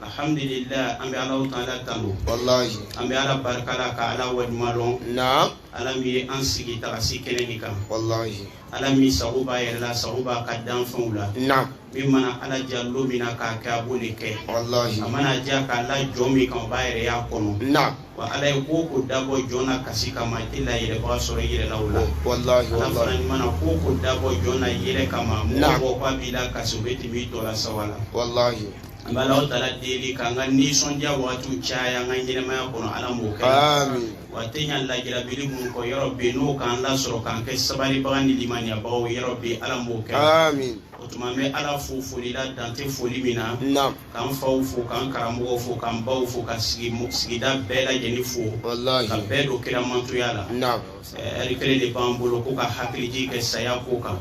alhamdulillah an bɛ alahu taala tanu walayi an bɛ ala barika la ka ala waleɲuman lɔn naam ala min ye an sigi tagasi kɛnɛ nin kan walayi ala min sago b'a yɛrɛ la sago b'a ka danfɛnw la naam min mana ala ja lon min na k'a kɛ a b'o de kɛ walayi a mana ja k'a la jɔn min kan o b'a yɛrɛ y'a kɔnɔ naam wa ala ye ko o ko dabɔ jɔn na kasi kama i tɛ layɛlɛbaga sɔrɔ i yɛrɛ la o la walayi ala fana walayi mana ko o ko dabɔ jɔn na yɛlɛ kama mɔgɔ Naam. bɔ k'a b'i lakasi o bɛ tɛmɛ i tɔ la sawa la walayi an bɛ alahu taala deli k'an ka nisɔndiya waatiw caya an ka ɲɛnamaya kɔnɔ ala m'o kɛ amin wa tiɲa la jirabili mun kɔ yɔrɔ bɛ yen n'o k'an lasɔrɔ k'an kɛ sabaribaga ni limaniyabaga o yɔrɔ bɛ yen ala m'o kɛ amin o tuma n bɛ ala fo foli la dan tɛ foli min na naam k'an faw fo k'an karamɔgɔw fo k'an baw fo ka sigida bɛɛ lajɛlen fo walahi ka bɛɛ don kira mantonya la naam Ari kelen de b'an bolo ko ka hakilijigi kɛ saya ko kan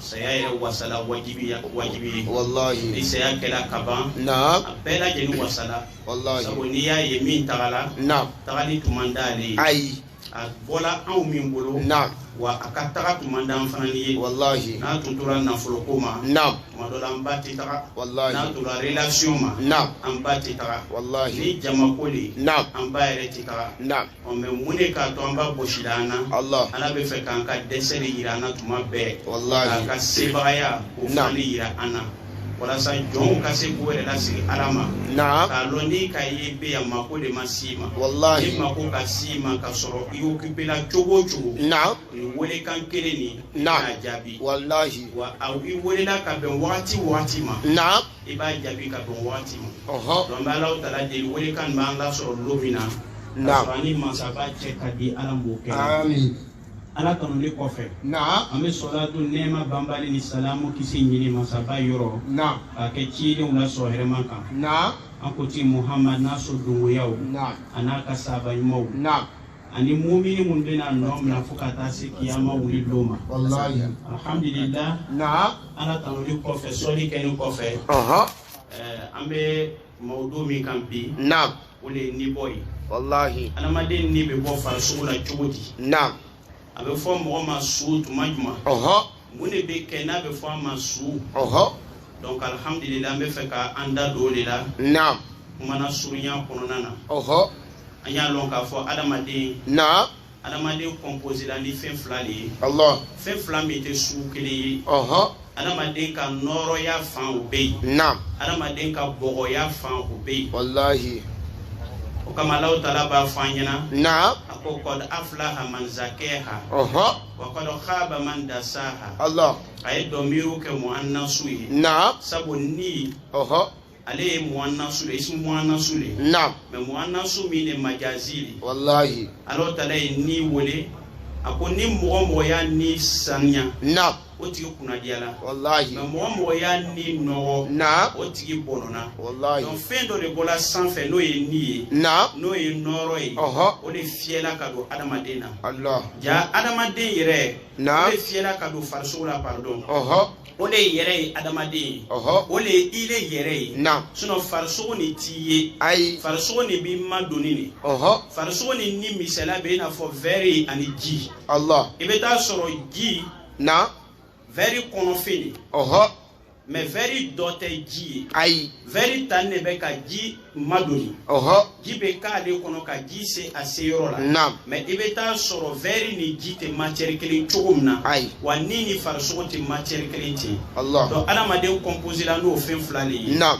saya ye wasala wajibi walayi ni saya kɛra ka ban a bɛɛ lajɛlen wasala sabu n'i y'a ye min tagala tagali tun man d'ale ayi a bɔla anw min bolo wa a ka taga tun man d'an fana ye n'a tun tora nafolo ko ma tuma dɔ la an ba tɛ taga n'a tora relation ma an ba tɛ taga ni jama ko de an ba yɛrɛ tɛ taga ɔn mais mun de k'a to an ba bɔsila an na Allah. ala bɛ fɛ k'an ka dɛsɛ de yira an na tuma bɛɛ Wallahi. k'a ka sebagaya o Naam. fana de yira an na walasa jɔnw ka se k'u yɛrɛ lasigi ala ma Naam. k'a lɔn n'i k'a ye i bɛ yan mako de ma s'i ma Wallahi. ni mako ka s'i ma ka sɔrɔ i occupé la cogo o cogo Naam. nin welekan kelen nin i Naam. b'a jaabi Wallahi. wa i welela ka bɛn wagati o wagati ma Naam. i b'a jaabi ka bɛn waati ma donc n bɛ alahu taala deli welekan b'an lasɔrɔ lon min na ka sɔrɔ an ni mansaba cɛ ka di ala m'o kɛ ala tanuli kɔfɛ an bɛ sɔlatu nɛɛma banbali ni salamu kisi ɲini mansaba yɔrɔ k'a kɛ cidenw la sɔrɔ hɛrɛma kan an kuntigi muhamadu n'a so dongoyaw an'a ka sahaba ɲumanw ani mumini mun bɛna nɔ minɛ fo ka taa se kiyama wuli lon ma walayi alhamdulillah naam ala tanuli kɔfɛ sɔli kɛni kɔfɛ ɔhɔn ɛɛ an bɛ mawudu min kan bi naam o de ye nibɔ ye walayi adamaden ni bɛ bɔ farisogo la cogo di naam a bɛ fɔ mɔgɔ ma su tuma jumɛn ɔhɔn mun de bɛ kɛ n'a bɛ fɔ a ma su ɔhɔ donc alhamdulila an bɛ fɛ ka an da don o de la naam kumana surunya kɔnɔna na ɔhɔ an y'a lɔn k'a fɔ adamaden naam adamaden composé la ni fɛn fila de ye allah fɛn fila min tɛ sugu kelen ye ɔhɔ adamaden ka nɔɔrɔya fan o bɛ yen naam adamaden ka bɔgɔya fan o bɛ yen walahi o kama alahu taala b'a fɔ an ɲɛna naam a ko qad aflaha man zakkaha ɔhɔ wa qad khaba man dasaha Allah a ye dɔmiru kɛ muhannasu ye naam sabu ni ɔhɔ ale ye muhannasu de ye ismu muhannasu de ye naam mais muhannasu min de majazi de ye walahi Alahu taala ye ni wele a ko ni mɔgɔ o mɔgɔ y'a ni saniya naam o tigi kunnadiyala walahi mais mɔgɔ o mɔgɔ y'a ni nɔgɔ naam o tigi bɔnɔna walahi donc fɛn dɔ de bɔla sanfɛ n'o ye ni ye naam n'o ye nɔɔrɔ ye Ɔhɔ. o de fiyɛla ka don adamaden na Allah ja adamaden yɛrɛ o de fiyɛla ka don farisogo la pardon o de ye yɛrɛ ye adamaden ye o de ye ile yɛrɛ ye sinon farisogo nin t'i ye ayi farisogo nin b'i madoni nin farisogo nin ni misaliya bɛ i n'a fɔ vɛri ani ji Allah i bɛ t'a sɔrɔ ji na vɛri kɔnɔfɛn nin mais vɛri dɔ tɛ ji ye ayi vɛri tan de bɛ ka ji madoni ɔhɔ ji bɛ k'ale kɔnɔ ka ji se a se yɔrɔ la naam mais i bɛ t'a sɔrɔ vɛri ni ji tɛ matiyɛri kelen cogo min na ayi wa ni ni farisogo tɛ matiyɛri kelen ten Allah donc adamaden kɔnposela n'o fɛn fila de ye naam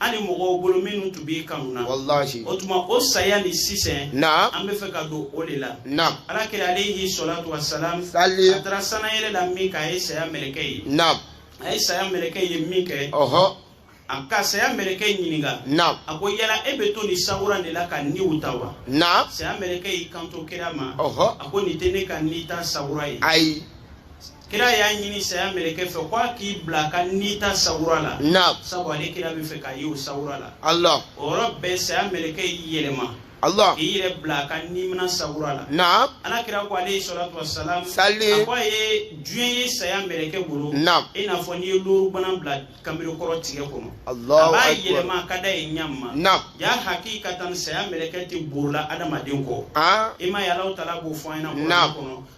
hali mɔgɔw bolo minnu tun b'i kanu na walahi o tuma o saya ni sisan na an bɛ fɛ ka don o de la na ala kira alehi salatu wa salam sali a taara sanayɛlɛ la min kɛ a ye saya mɛlɛkɛ ye na a ye saya mɛlɛkɛ ye min kɛ ɔhɔ a ka saya mɛlɛkɛ ɲininka na a ko yala e bɛ to nin sawura de la ka niw ta wa na saya mɛlɛkɛ y'i kanto kira ma ɔhɔ a ko nin tɛ ne ka ni ta sawura ye ayi kira y'a ɲini saya mɛlɛkɛ fɛ ko a k'i bila ka ni ta sawura la naam sabu ale kira bɛ fɛ k'a ye o sawura la allah o yɔrɔ bɛɛ saya mɛlɛkɛ y'i yɛlɛma allah k'i yɛrɛ bila ka nimina sawura la naam ala kira ko alehi salatu wasalam Sali. a ko a ye diɲɛ ye saya mɛlɛkɛ bolo Naam. i n'a fɔ n'i ye lorubana bila kanbere kɔrɔ tigɛ kɔnɔ a allahu b'a akbar yɛlɛma a ka d'a ye ɲa min ma naam ja hakikatan saya mɛlɛkɛ tɛ borola adamaden kɔ ah i m'a ye Alahu taala b'o fɔ an ɲɛna Naam. kɔnɔ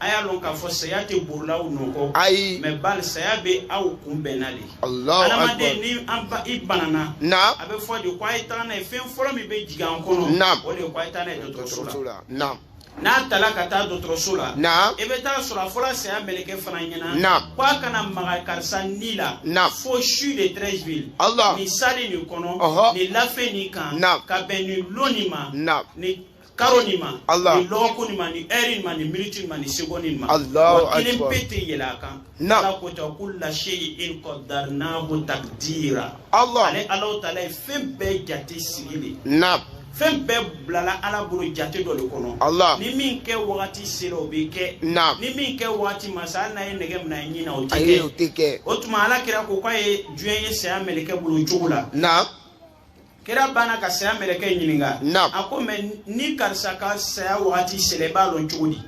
a y'a lɔn k'a fɔ saya tɛ borola aw nɔkɔ ayi mais bali saya bɛ aw kunbɛnna de Allahu adamaden ni i banana naam a bɛ fɔ de ko a ye taga n'a ye fɛn fɔlɔ min bɛ jigin an kɔnɔ naam o de ye ko a ye taa n'a ye dɔgɔtɔrɔso la naam n'a tala ka taa dɔgɔtɔrɔso la naam i bɛ t'a sɔrɔ a fɔra saya mɛlɛkɛ fana ɲɛna naam ko a kana maga karisa ni la naam fo CHU de Treichville Allah nin sali nin kɔnɔ ɔhɔ nin lafe nin kan naam ka bɛn nin lon nin ma naam nin karo nin ma nin lɔgɔkun nin ma nin ɛri nin ma nin miniti nin ma nin segɔni nin ma wa kelen pe tɛ yɛlɛ a kan ala ko ta kulla shay'in qaddarnahu taqdira ale Alahu taala ye fɛn bɛɛ jate sigi de fɛn bɛɛ bilala ala bolo jate dɔ de kɔnɔ ni min kɛ wagati sera o bɛ kɛ ni min kɛ wagati ma se hali n'a ye nɛgɛ minɛ a ɲin na o tɛ kɛ o tuma ala kira ko k'a ye diɲɛ ye saya mɛlɛkɛ bolo cogo la kira banna ka saya mɛlɛkɛ ɲininka a ko mɛ ni karisa ka saya wagati sela i b'a lɔn cogo di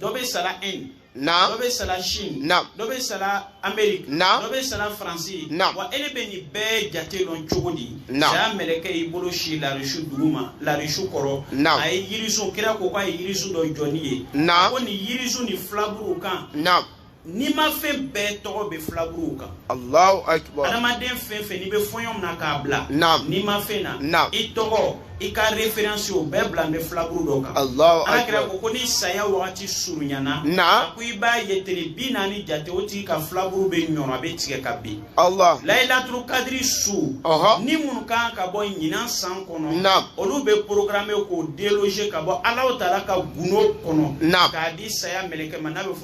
dɔ bɛ sara inde naam dɔ bɛ sara chine naam dɔ bɛ sara amérique naam dɔ bɛ sara faransi naam wa ele bɛ nin bɛɛ jate lɔn cogo di naam saya mɛlɛkɛ y'i bolo sin larisu duguma larisu kɔrɔ naam a ye yirisun kira ko k'a ye yirisun dɔ jɔnin ye naam a ko nin yirisun nin filaburu kan naam nimafɛn bɛɛ tɔgɔ bɛ filaburuw kan alahu akibar adamaden fɛn fɛn n'i bɛ fɔɲɔ mina k'a bila naam nimafɛn na naam i tɔgɔ i ka référence o bɛɛ bilanin bɛ filaburu dɔ kan alahu ala kira akibar ko ni saya wagati surunyana naam a ko i b'a ye tele bi naani jate o tigi ka filaburu bɛ ɲɔrɔ a bɛ tigɛ ka bin allah layilaturu kadiri su ɔhɔ ni minnu kan ka bɔ ɲinan san kɔnɔ naam olu bɛ programmer k'o déloger ka bɔ alahu taala ka gundo kɔnɔ naam k'a di saya mɛlɛkɛ ma n'a bɛ fɔ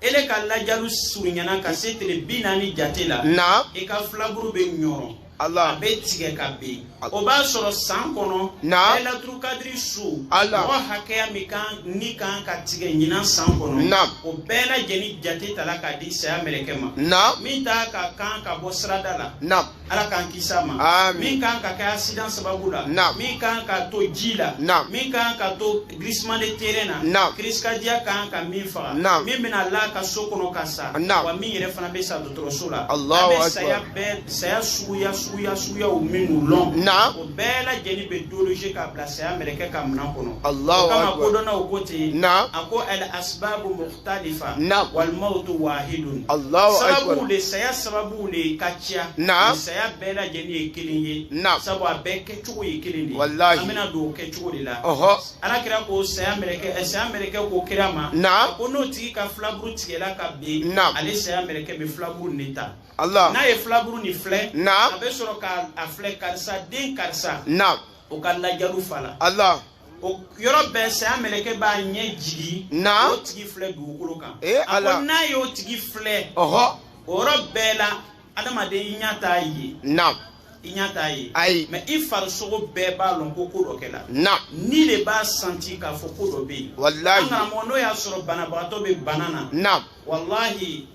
ele ka lajalu surunyana ka se tele bi naani jate la naam i ka filaburu bɛ ɲɔrɔ Allah. a bɛ tigɛ ka ben o b'a sɔrɔ san kɔnɔ naam layilaturu kadiri su Allah. mɔgɔ hakɛya min ka ni kan ka tigɛ ɲinan san kɔnɔ naam o bɛɛ lajɛlen jate tala k'a di saya mɛlɛkɛ ma naam min ta ka kan ka bɔ sirada la naam ala k'an kisi a ma min kan ka kɛ accident sababu la min kan ka to ji la min kan ka to glissement de terrain na crise cardiaque kan ka min faga min bɛna la ka so kɔnɔ ka sa wa min yɛrɛ fana bɛ sa dɔgɔtɔrɔso la an bɛ saya bɛɛ saya suguya suguya suguyaw minnu lɔn o bɛɛ lajɛlen bɛ déloger k'a bila saya mɛlɛkɛ ka minɛn kɔnɔ o kama kodɔnnaw ko ten a ko al asbabu talifa naam wal mawutu wahidun Allahu akbar sababu le saya sababu le ka ca naam saya bɛɛ lajɛlen ye kelen ye naam sabu a bɛɛ kɛcogo ye kelen de ye walahi an bɛna don o kɛcogo le la ɔhɔ ala kira ko ɛ saya mɛrɛkɛ ko kira ma naam ko n'o tigi ka filaburu tigɛla ka bin naam ale saya mɛrɛkɛ bɛ filaburu nin ta Allah n'a ye filaburu nin filɛ naam a bɛ sɔrɔ ko a filɛ karisa den karisa naam o ka lajalu fala Allah o yɔrɔ bɛɛ saya mɛlɛkɛ b'a ɲɛ jigi naam o tigi filɛ dugukolo kan e ala a ko n'a y'o tigi filɛ ɔhɔ o yɔrɔ bɛɛ la adamaden i ɲɛ t'a ye naam i ɲɛ t'a ye ayi mɛ i farisogo bɛɛ b'a lɔn ko ko dɔ kɛla naam ni le b'a sentir k'a fɔ ko dɔ bɛ yen walayi an karamɔgɔ n'o y'a sɔrɔ banabagatɔ bɛ bana na naam walayi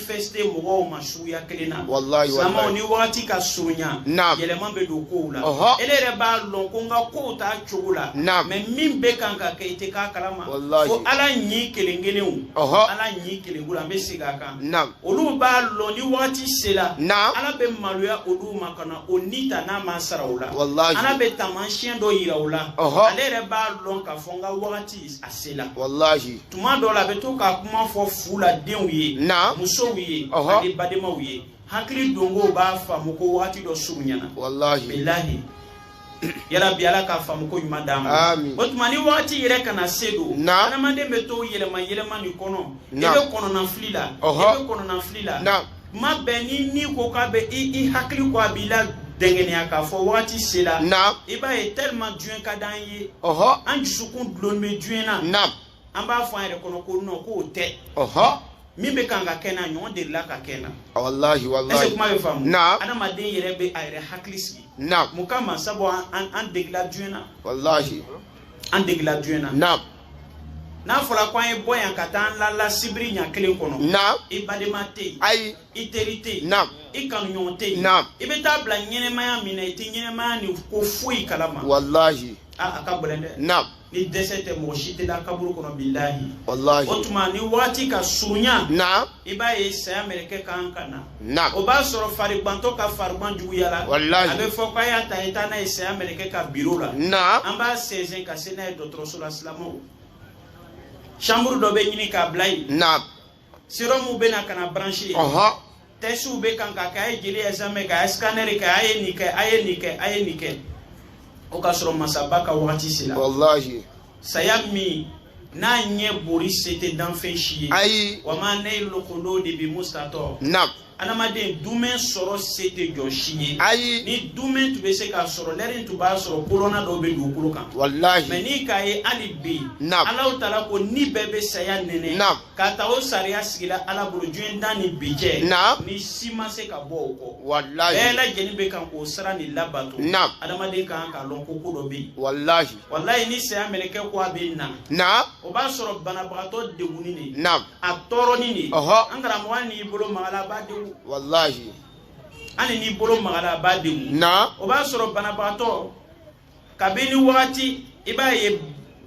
manifester mɔgɔw ma suguya kelen na silamɛw ni wagati ka surunya yɛlɛma bɛ don kow la ele yɛrɛ b'a lɔn ko n ka kow t'a cogo la mɛ min bɛ kan ka kɛ i tɛ k'a kalama fo ala ɲin kelen kelenw ala ɲin kelen kelen an bɛ segin a kan olu b'a lɔn ni wagati sela ala bɛ maloya olu ma kana o ni ta n'a m'a sara o la ala bɛ taamasiyɛn dɔ yira o la ale yɛrɛ b'a lɔn k'a fɔ n ka wagati a se la walahi tuma dɔw la a bɛ to ka kuma fɔ fu la denw ye naam musow ye ani badenmaw ye hakili donko b'a faamu ko wagati dɔ surunyana walahi bilahi yarabi ala ka faamuko ɲuman d'an ma o tuma ni wagati yɛrɛ ka na se don adamaden bɛ to yɛlɛma yɛlɛmani kɔnɔ i bɛ kɔnɔnafili la i bɛ kɔnɔnafili la kuma bɛɛ ni min ko k'a bɛ i i hakili ko a b'i ladɛngɛnɛya k'a fɔ wagati sera Naam. i b'a ye tellement diɲɛ ka d'an ye ɔhɔ an dusukun dulon bɛ diɲɛ na naam an b'a fɔ an yɛrɛ kɔnɔ ko non k'o tɛ ɔhɔ min bɛ kan ka kɛ n na ɲɔgɔn delila ka kɛ n na walahi ɛseke walahi kuma bɛ faamu Naam. adamaden yɛrɛ bɛ a yɛrɛ hakili sigi naam mun kama sabu an an an degela diɲɛ na walahi an degela diɲɛ na naam n'a fɔra ko an ye bɔ yan ka taa an lala sibiri ɲa kelen kɔnɔ naam i badema tɛ yen ayi i teri tɛ yen naam i kanuɲɔgɔn tɛ yen naam i bɛ taa bila ɲɛnamaya min na i tɛ ɲɛnamaya nin ko foyi kala ma walahi a a ka gɛlɛn dɛ naam ni dɛsɛ tɛ mɔgɔ si tɛ da kaburu kɔnɔ bilahi walahi o tuma ni waati ka surunya naam i b'a ye saya mɛlɛkɛ kan ka na naam o b'a sɔrɔ farigbantɔ ka farigban juguyala Walahi. a bɛ fɔ k'a y'a ta i taa n'a ye saya mɛlɛkɛ ka biro la naam an b'a sɛnsɛn ka se n'a ye dɔgɔtɔrɔso la silamaw chambre dɔ bɛ ɲini k'a bila yen naam serɔmu bɛ na ka na branché yen ɔhɔn tɛsiw bɛ kan ka kɛ a ye jeli examen kɛ a ye scanner kɛ a ye nin kɛ a ye nin kɛ a ye nin kɛ o k'a sɔrɔ masaba ka wagati sera walahi saya min n'a ɲɛ bori se tɛ danfɛn si ye ayi wa ma naylul kuludi bi mustata naam adamaden dumɛn sɔrɔ se tɛ jɔn si ye ayi ni dumɛn tun bɛ se k'a sɔrɔ lɛri tun b'a sɔrɔ bolona dɔw bɛ dugukolo kan walahi mɛ n'i k'a ye hali bi naam alahu taala ko ni bɛɛ bɛ saya nɛnɛ naam k'a ta o sariya sigila ala bolo diɲɛ dan ni bi cɛ naam ni si ma se ka bɔ o kɔ walahi bɛɛ lajɛlen bɛ kan k'o sira nin labato naam adamaden ka kan k'a lɔn ko ko dɔ bɛ yen walahi walayi ni saya mɛlɛkɛ ko a bɛ na. naam. o b'a sɔrɔ banabagatɔ degunnin de. naam. a tɔɔrɔnin de. ɔhɔ. an karamɔgɔ hali n'i bolo magala a b'a degun. walayi. hali n'i bolo magala a b'a degun. naam. o b'a sɔrɔ banabagatɔ kabini wagati i b'a ye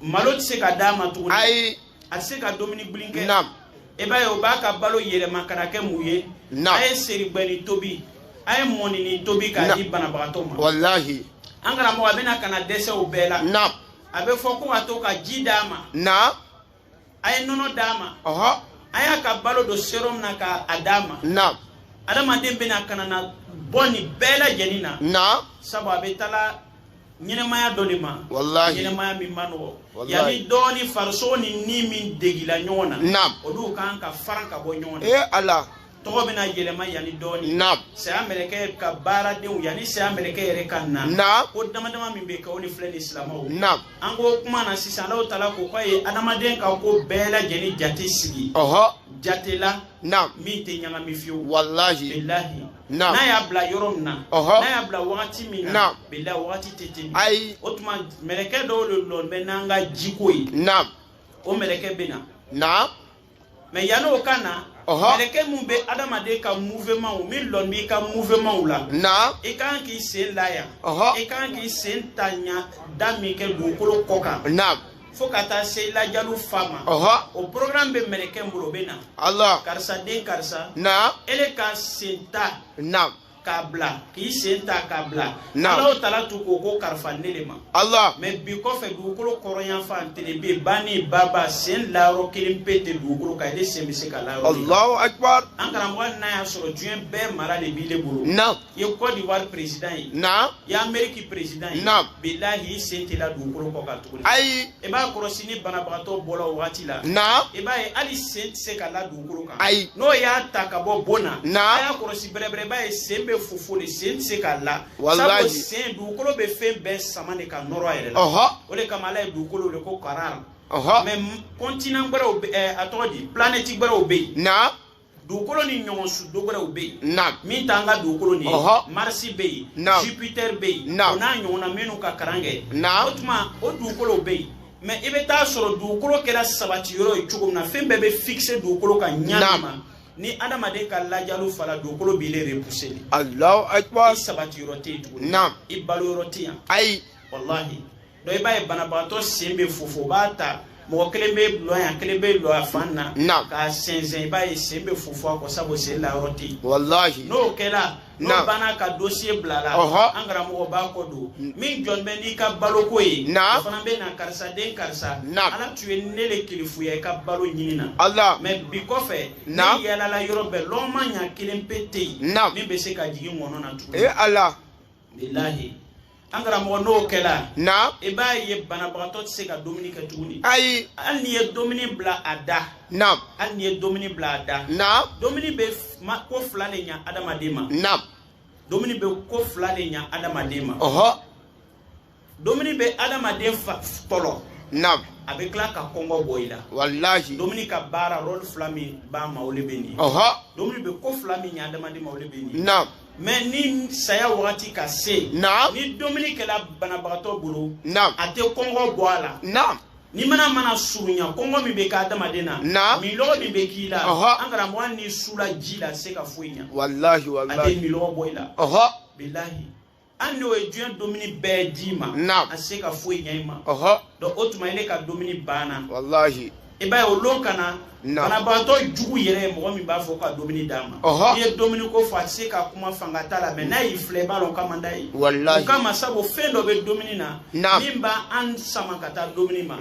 malo tɛ se ka d'a ma tuguni. ayi. a tɛ se ka dumuni gbilin kɛ naam i b'a ye o b'a ka balo yɛlɛma ka na kɛ mun ye naam a ye serigbɛnin tobi a ye mɔnini tobi k'a di banabagatɔ ma walahi an karamɔgɔ a bɛna ka na dɛsɛ o bɛɛ la naam a bɛ fɔ ko ka to ka ji d'a ma naam a ye nɔnɔ d'a ma ɔhɔ a y'a ka balo don serum na k'a d'a ma naam adamaden bɛna ka na na bɔ nin bɛɛ lajɛlen na naam sabu a bɛ taala ɲɛnɛmaya dɔ le ma walahi ɲɛnɛmaya min man nɔgɔ yanni dɔɔni farisogo ni ni min degila ɲɔgɔn na naam olu kan ka faran ka bɔ ɲɔgɔn na ee ala tɔgɔ bɛna yɛlɛma yanni dɔɔni naam saya mɛlɛkɛ ka baaradenw yanni saya mɛlɛkɛ yɛrɛ ka na naam ko dama dama min bɛ kɛ o le filɛ nin silamaw naam an ko kuma na sisan alaw taala ko k'a ye adamaden ka ko bɛɛ lajɛlen jate sigi ɔhɔ jate la naam min tɛ ɲagami fiyewu walahi bilahi n'a y'a bila yɔrɔ min na n'a y'a bila wagati min na bilahi wagati tɛ tɛmɛ ayi o tuma mɛlɛkɛ dɔw le lɔn bɛ n'an ka jiko ye o mɛlɛkɛ bɛ na mais yanni o ka na mɛlɛkɛ min bɛ adamaden ka mouvement o min lɔn b'i ka mouvement o la i ka kan k'i sen la yan i ka kan k'i sen ta ɲa da min kɛ dugukolo kɔ kan fo ka taa se i lajalu fa ma o programme bɛ mɛlɛkɛ min bolo o bɛ na ala karisa den karisa naam ele ka sen ta naam k'a bila k'i sen ta k'a bila alaw tala tun k'o ko karifa ne le ma ala mais bi kɔfɛ dugukolo kɔrɔn yanfan telebe banin baba sen layɔrɔ kelen pe tɛ dugukolo kan ele sen bɛ se ka la yɔrɔ alahu akibar an karamɔgɔ n'a y'a sɔrɔ diɲɛ bɛɛ mara le b'i le bolo naam i ye Côte d'Ivoire président ye naam i ye Amérique président ye naam bilahi i sen tɛ la dugukolo kɔ kan tuguni ayi i b'a kɔlɔsi ni banabagatɔ bɔla o wagati la naam i b'a ye hali sen tɛ se ka la dugukolo kan ayi n'o y'a ta ka bɔ bon na naam a y'a kɔlɔsi bɛrɛbɛrɛ b'a ye sen bɛ fofo le sen tɛ se ka la sabu sen dugukolo bɛ fɛn bɛɛ sama le ka nɔrɔ a yɛrɛ la o le kama ala ye dugukolo wele ko karara mais continent wɛrɛw eh, a tɔgɔ di planète wɛrɛw bɛ yen naam dugukolo ni ɲɔgɔn su dɔ wɛrɛw bɛ yen naam min t'an ka dugukolo nin ye Ɔhɔ. Mars bɛ yen Naam. jupiter bɛ yen Naam. o n'a ɲɔgɔnna minnu ka karan kɛ Naam. o tuma o dugukolow bɛ yen mais i bɛ t'a sɔrɔ dugukolo kɛra sabati yɔrɔ ye cogo min na fɛn bɛɛ bɛ fixer dugukolo kan ɲa Naam. min ma ni adamaden ka lajalu fala dugukolo b'i le repousser le allahu akbar i sabati yɔrɔ tɛ yen tuguni Naam. i balo yɔrɔ tɛ yan ayi walahi donc i b'a ye banabagatɔ sen bɛ fofo o b'a ta mɔgɔ kelen bɛ lɔ yan kelen bɛ lɔ a fan na k'a sɛnsɛn i b'a ye sen bɛ fofo a kɔ sabu sen la yɔrɔ tɛ yen walahi n'o kɛla n'o banna k'a dossier bila la an karamɔgɔ b'a kɔ don mm. min jɔnin bɛ n'i ka baloko ye o fana bɛ na karisa den karisa ala tun ye ne le kelifuya i ka balo ɲini na mais bi kɔfɛ ne yaalala yɔrɔ bɛɛ lɔgɔma ɲa kelen pe tɛ yen min bɛ se ka jigin ŋɔnɔ na tuguni. Eh, an karamɔgɔ n'o kɛla naam i b'a ye banabagatɔ tɛ se ka dumuni kɛ tuguni ayi hali n'i ye dumuni bila a da naam hali n'i ye dumuni bila a da naam dumuni bɛ ko fila le ɲa adamaden ma naam dumuni bɛ ko fila le ɲa adamaden ma ɔhɔ dumuni bɛ adamaden tɔlɔ naam a bɛ tila ka kɔngɔ bɔ i la walahi dumuni ka baara rôle fila min b'a ma o le bɛ nin ye ɔhɔ dumuni bɛ ko fila min ɲa adamaden ma o le bɛ nin ye naam mɛ ni saya wagati ka se naam ni dumuni kɛla banabagatɔ bolo naam a tɛ kɔngɔ bɔ a la naam ni mana mana surunya kɔngɔ min bɛ kɛ adamaden na naam minlɔgɔ min bɛ k'i la an karamɔgɔ hali n'i sula ji la a se ka foyi ɲa walahi walahi a tɛ minlɔgɔ bɔ i la bilahi hali n'o ye diɲɛ dumuni bɛɛ d'i ma a se ka foyi ɲa i ma donc o tuma ile ka dumuni banna walahi i b'a ye o lon ka na banabagatɔ jugu yɛrɛ ye mɔgɔ min b'a fɔ ka dumuni d'a ma i ye dumuni ko fɔ a tɛ se ka kuma fanga t'a la mɛ n'a y'i filɛ i b'a dɔn k'a man d'a ye o kama sabu fɛn dɔ bɛ dumuni na min b'an sama ka taa dumuni ma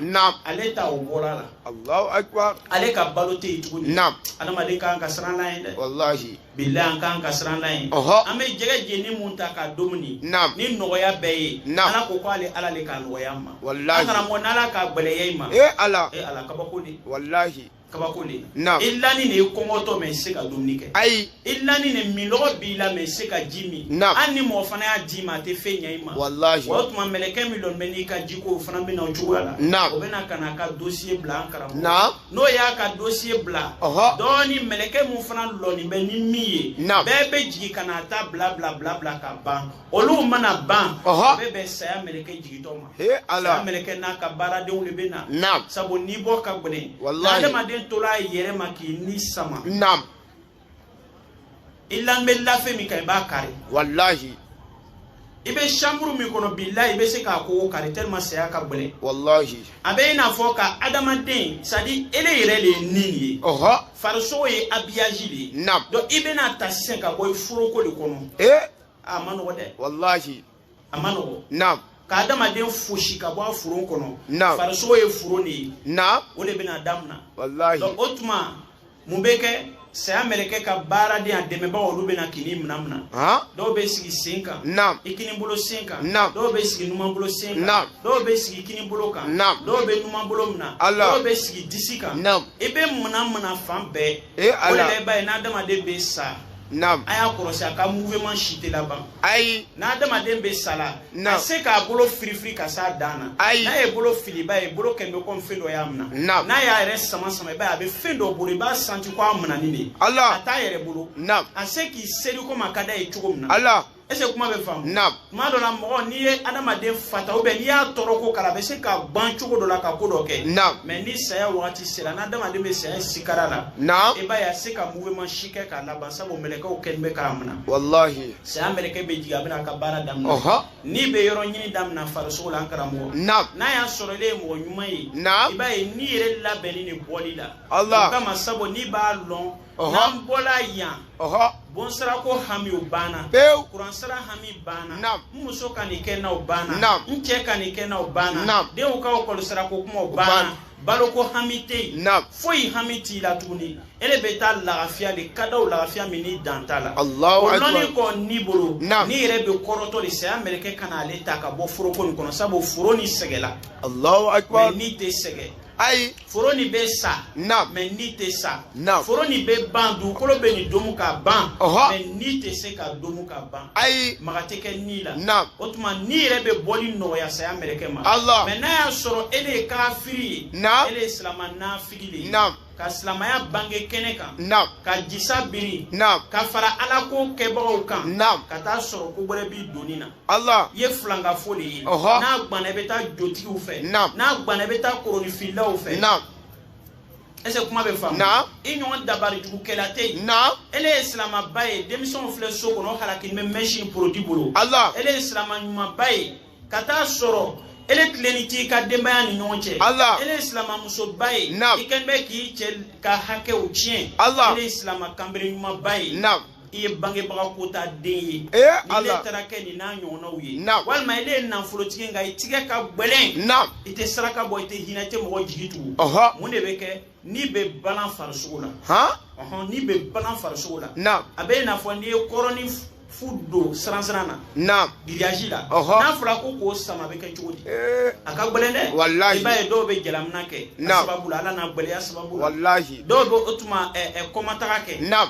ale ta o bɔra a la ale ka balo tɛ yen tuguni adamaden kan ka siran ala ye dɛ bilahi an kan ka siran ala ye an bɛ jɛgɛ jeni mun ta ka dumuni ni nɔgɔya bɛɛ ye ala ko ko ale ala de k'a nɔgɔya an ma an karamɔgɔ n'ala k'a gɛlɛya i ma e ala e ala kabako de walahi kabako de i lani de i kɔngɔtɔ mɛ i se ka dumuni kɛ ayi i lani de minlɔgɔ b'i la mɛ i se ka ji min hali ni mɔgɔ fana y'a d'i ma a tɛ fɛn ɲɛ i ma walahi o tuma mɛlɛkɛ min dɔn bɛ n'i ka jiko o fana bɛ na o cogoya la o bɛ na ka na a ka dosiye bila an karamɔgɔ n'o y'a ka dosiye bila dɔɔni mɛlɛkɛ min fana lɔni bɛ ni min ye bɛɛ bɛ jigin ka na a ta bila bila bila bila ka ban olu mana ban bɛɛ bɛ saya mɛlɛkɛ jigintɔ ma saya mɛlɛkɛ n'a ka baaradenw de bɛ na sabu ni bɔ ka gɛlɛn adamaden tola a yɛrɛ ma k'i ni sama i lan bɛ lafɛn min kan i b'a kari walahi i bɛ chambre min kɔnɔ bilahi i bɛ se k'a kogo kari tellement saya ka gɛlɛn walahi a bɛ i n'a fɔ ka adamaden c'est à dire ele yɛrɛ de ye ni ye ɔhɔ farisogo ye habillage de ye naam donc i bɛna ta sisan ka bɔ i foroko de kɔnɔ ee a ma nɔgɔ dɛ walahi a ma nɔgɔ naam ka adamaden fosi ka bɔ a foron kɔnɔ naam farisogo ye foron de ye naam o de bɛna damina walahi donc o tuma mun bɛ kɛ saya mɛlɛkɛ ka baaraden a dɛmɛbagaw olu bɛ na k'i ni mina mina han dɔw bɛ sigi sen kan naam i kini bolo sen kan Naam. dɔw bɛ sigi numan bolo sen kan Naam. dɔw bɛ sigi kini bolo kan Naam. dɔw bɛ numan bolo mina Allah. dɔw bɛ sigi disi kan Naam. i bɛ mina mina fan bɛɛ Eh, o de Allah. la i b'a ye n'adamaden bɛ sa Naam. A y'a kɔlɔsi a ka mouvement si tɛ laban. Ayi. N'adamaden bɛ sala. Naam. A se k'a bolo firifiri ka s'a dan na. Ayi. N'a ye bolo fili i b'a ye bolo kɛlen bɛ komi fɛn dɔ y'a minɛ. Naam. N'a y'a yɛrɛ sama sama i b'a ye a bɛ fɛn dɔ bolo i b'a santi ko a minɛni de. Ala. A t'a yɛrɛ bolo. Naam. A se k'i seri komi a ka d'a ye cogo min na. Ala. est-ce que kuma bɛ faamu naam tuma dɔ la mɔgɔ n'i ye adamaden fata ubiyɛn n'i y'a tɔɔrɔ ko kala a bɛ se ka ban cogo dɔ la ka ko dɔ kɛ naam mɛ ni saya wagati sera n'adamaden bɛ saya sikara la naam i b'a ye a se ka mouvement si kɛ k'a laban sabu mɛlɛkɛw kɛlen bɛ k'a minɛ walahi saya mɛlɛkɛ bɛ jigin a bɛna a ka baara daminɛ ɔhɔ ni bɛ yɔrɔ ɲini daminɛ farisogo la an karamɔgɔ naam n'a y'a sɔrɔ ile ye mɔgɔ ɲuman ye naam i b'a ye ni yɛrɛ labɛnni de bɔli la Allah. o kama sabu n'i b'a lɔn Ɔhɔ. n'an bɔla yan ɔhɔ bonsarako hami o banna pewu kuransara hami banna Naam. n muso ka nin kɛ n na o banna Naam. n cɛ ka nin kɛ n na o banna Naam. denw ka ekɔlisarako kuma o banna banna. baloko hami tɛ yen Naam. foyi hami t'i la tuguni ele bɛ taa lafiya de ka da o lafiya min ni dan t'a la Allahu o akbar. lɔnni kɔ ni bolo Naam. ni yɛrɛ bɛ kɔrɔtɔ de saya mɛlɛkɛ ka na ale ta ka bɔ foroko nin kɔnɔ sabu foro nin sɛgɛla allahu mɛ akbar ni tɛ sɛgɛ ayi foro nin bɛ sa naam mɛ ni tɛ sa naam foro nin bɛ ban dugukolo bɛ nin domu ka ban ɔhɔ mɛ ni tɛ se ka domu ka ban ayi maga tɛ kɛ ni la naam o tuma ni yɛrɛ bɛ bɔli nɔgɔya saya mɛlɛkɛ ma Allah mɛ n'a y'a sɔrɔ ele ye kafiri ye naam ele ye silama nafigi de ye naam ka silamaya bange kɛnɛ kan naam ka jisa biri naam ka fara ala ko kɛbagaw kan naam ka t'a sɔrɔ ko wɛrɛ b'i doni na Allah i ye filankafo de ye n'a gbanna i bɛ taa jotigiw fɛ n'a gbanna i bɛ taa koronifilaw fɛ ɛsɛ kuma bɛ faamu i ɲɔgɔn dabari jugu kɛla tɛ yen ele ye silamaba ye denmisɛnw filɛ so kɔnɔ halakilen bɛ mɛsi porodi bolo ele ye silama ɲumanba ye ka t'a sɔrɔ ele tilennen t'i ka denbaya ni ɲɔgɔn cɛ ele ye silamamusoba ye i kɛlen bɛ k'i cɛ ka hakɛw tiɲɛ ele ye silama kanbere ɲumanba ye i ye bangebaga kota den ye n'ele taara kɛ nin n'a ɲɔgɔnnaw ye walima ele ye nafolotigi nka i tigɛ ka gbɛlɛn i tɛ saraka bɔ i tɛ hinɛ i tɛ mɔgɔ jigi tugu mun de bɛ kɛ ni bɛ balan farisogo la ni bɛ balan farisogo la a bɛ i n'a fɔ n'i ye kɔrɔni fu don siransiran na naam giriyazi la n'a fɔra ko k'o sama a bɛ kɛ cogo di eh. a ka gɛlɛn dɛ walahi i b'a ye dɔw bɛ jalamina kɛ a sababu la ala n'a gɛlɛya sababu la walahi dɔw bɛ o tuma kɔma taga kɛ naam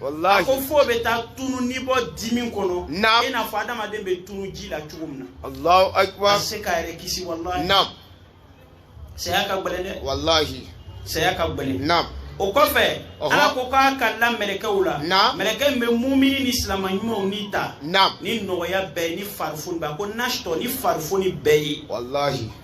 walahi ko fo bɛ taa tunu ni bɔ dimi kɔnɔ naam i n'a fɔ adamaden bɛ tunu ji la cogo min na allahu akbar a se k'a yɛrɛ kisi walahi naam saya ka gɛlɛn dɛ walahi saya ka gɛlɛn naam o kɔfɛ ala ko k'a kalila mɛlɛkɛw la mɛlɛkɛ min bɛ mumini ni silama ɲumanw ni ta ni nɔgɔya bɛɛ ni farifoni bɛɛ ko nasitɔ ni farifoni bɛɛ ye walahi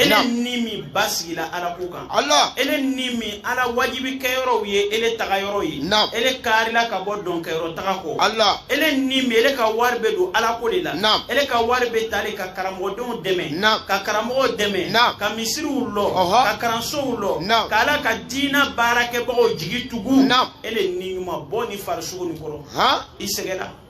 ele ni min basigila ala ko kan ele ni min ala wajibi kɛyɔrɔw ye ele tagayɔrɔ ye ele karila ka bɔ dɔnkɛyɔrɔ taga kɔ ele ni min ele ka wari bɛ don ala ko de la ele ka wari bɛ ta de ka karamɔgɔdenw dɛmɛ ka karamɔgɔw dɛmɛ ka misiriw lɔ ka kalansow lɔ ka ala ka diina baarakɛbagaw jigi tugu ele ni ɲuman bɔ nin farisogo nin kɔrɔ i sɛgɛnna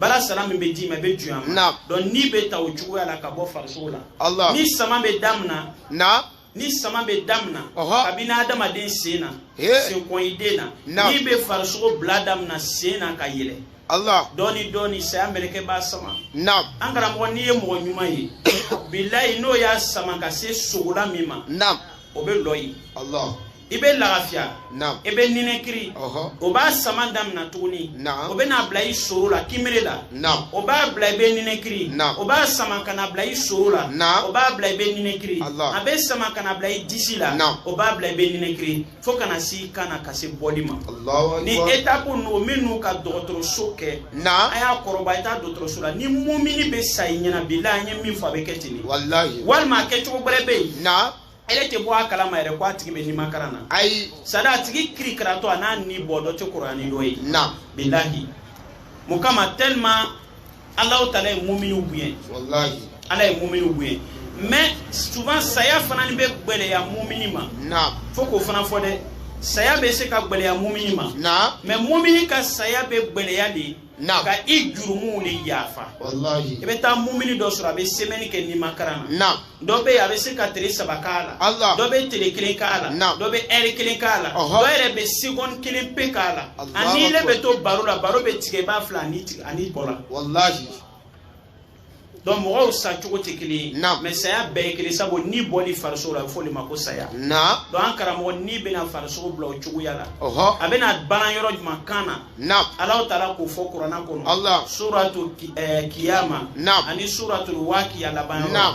baara sara min bɛ d'i ma i bɛ juya ma donc ni bɛ ta o cogoya la ka bɔ farisogo la ni sama bɛ damina ni sama bɛ damina kabini adamaden sen na senkɔniden na ni bɛ farisogo bila damina sen na ka yɛlɛ Allah dɔɔni dɔɔni saya mɛlɛkɛ b'a sama naam an karamɔgɔ n'i ye mɔgɔ ɲuman ye bilayi n'o y'a sama ka se sogola min ma naam o bɛ lɔ yen Allah i bɛ lagafiya i bɛ ninɛkiri o b'a sama damina tuguni o bɛn'a bila i soro la kinbere la o b'a bila i bɛ ninɛkiri o b'a sama ka na bila i soro la o b'a bila i bɛ ninɛkiri a bɛ sama ka na bila i disi la o b'a bila i bɛ ninɛkiri fo ka na se kan na ka se bɔli ma ni etapu ninnu minnu ka dɔgɔtɔrɔso kɛ a y'a kɔrɔbɔ i taa dɔgɔtɔrɔso la ni mumini bɛ sa i ɲɛna bilahi an ye min fɔ a bɛ kɛ ten de walima a kɛcogo wɛrɛ bɛ yen ele tɛ bɔ a kalama yɛrɛ ko a tigi bɛ nimakaran na ayi sadi a tigi kirikaratɔ a n'a ni bɔ dɔ tɛ kɔrɔya ni dɔ ye naam bilahi mun kama tellement ala taala ye muminiw bonya walahi ala ye muminiw bonya mais souvent saya fana ni bɛ gbɛlɛya mumini ma naam fo k'o fana fɔ dɛ saya bɛ se ka gbɛlɛya mumini ma naam mais mumini ka saya bɛ gbɛlɛya de Naam. ka i jurumuw le yafa walahi i bɛ taa mumini dɔ sɔrɔ a bɛ semɛni kɛ nimakaran na naam dɔ bɛ yen a bɛ se ka tile saba k'a la Allah. dɔ bɛ tile kelen k'a la Naam. dɔ bɛ ɛri kelen k'a la Ɔhɔ. dɔ yɛrɛ bɛ segɔni kelen pe k'a la Allahu Akbar. a ni ile bɛ to baro la baro bɛ tigɛ i b'a filɛ a ni bɔla walahi donc mɔgɔw sa cogo tɛ kelen ye mais saya bɛɛ ye kelen sabu ni bɔli farisogo la a bɛ fɔ o le ma ko saya donc an karamɔgɔ ni bɛna farisogo bila o cogoya la a bɛna balan yɔrɔ jumɛn kan na ala taala k'o fɔ kuranna kɔnɔ suratu kiyama ani suratu wakiya laban yɔrɔ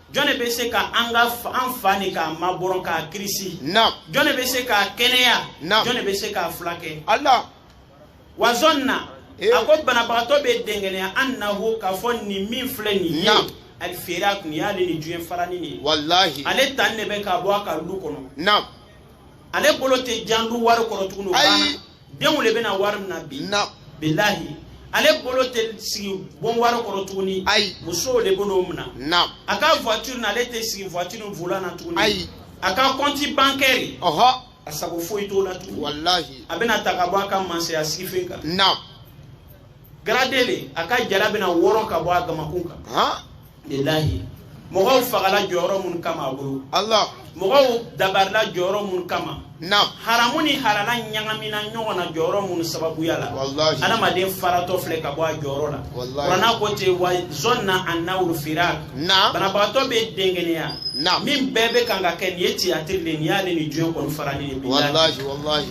jɔn de bɛ se ka an ka an fa nin k'a mabɔrɔn k'a kirisi naam jɔn de bɛ se k'a kɛnɛya naam jɔn de bɛ se k'a fulakɛ ala wa zɔnna eh. a ko banabagatɔ bɛ dɛngɛnɛya annahu k'a fɔ nin min filɛ nin ye naam al firaku nin y'ale ni diɲɛ farani de ye walahi ale tan de bɛ ka bɔ a ka lu kɔnɔ naam ale bolo tɛ jan lu wari kɔrɔ tuguni o banna denw le bɛna wari mina bi bilahi ale bolo tɛ sigi bon wari kɔrɔ tuguni ayi musow le bɛn'o minɛ naam a ka voiture na ale tɛ sigi voiture volant na tuguni ayi a ka compte bancaire ɔhɔ a sago foyi t'o la tuguni walahi a bɛna ta ka bɔ a ka mansaya sigifen kan naam gradé le a ka jala bɛna wɔrɔn ka bɔ a gamakun kan bilahi mɔgɔw fagala jɔyɔrɔ mun kama a bolo Allah mɔgɔw dabarila jɔyɔrɔ mun kama naam haramu ni halala ɲagamina ɲɔgɔn na jɔyɔrɔ mun sababuya la wallahi adamaden faratɔ filɛ ka bɔ a jɔyɔrɔ la wallahi kuranna ko ten wa zɔnna annahul firak naam banabagatɔ bɛ dɛngɛnɛya naam min bɛɛ bɛ kan ka kɛ nin ye tiyatiri de ye nin y'ale ni diɲɛ kɔni farali de bilahi wallahi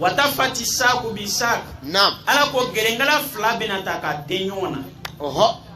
watafati saku bi sak naam ala ko gɛrɛnkala fila bɛna ta ka dɛn ɲɔgɔn na ɔhɔ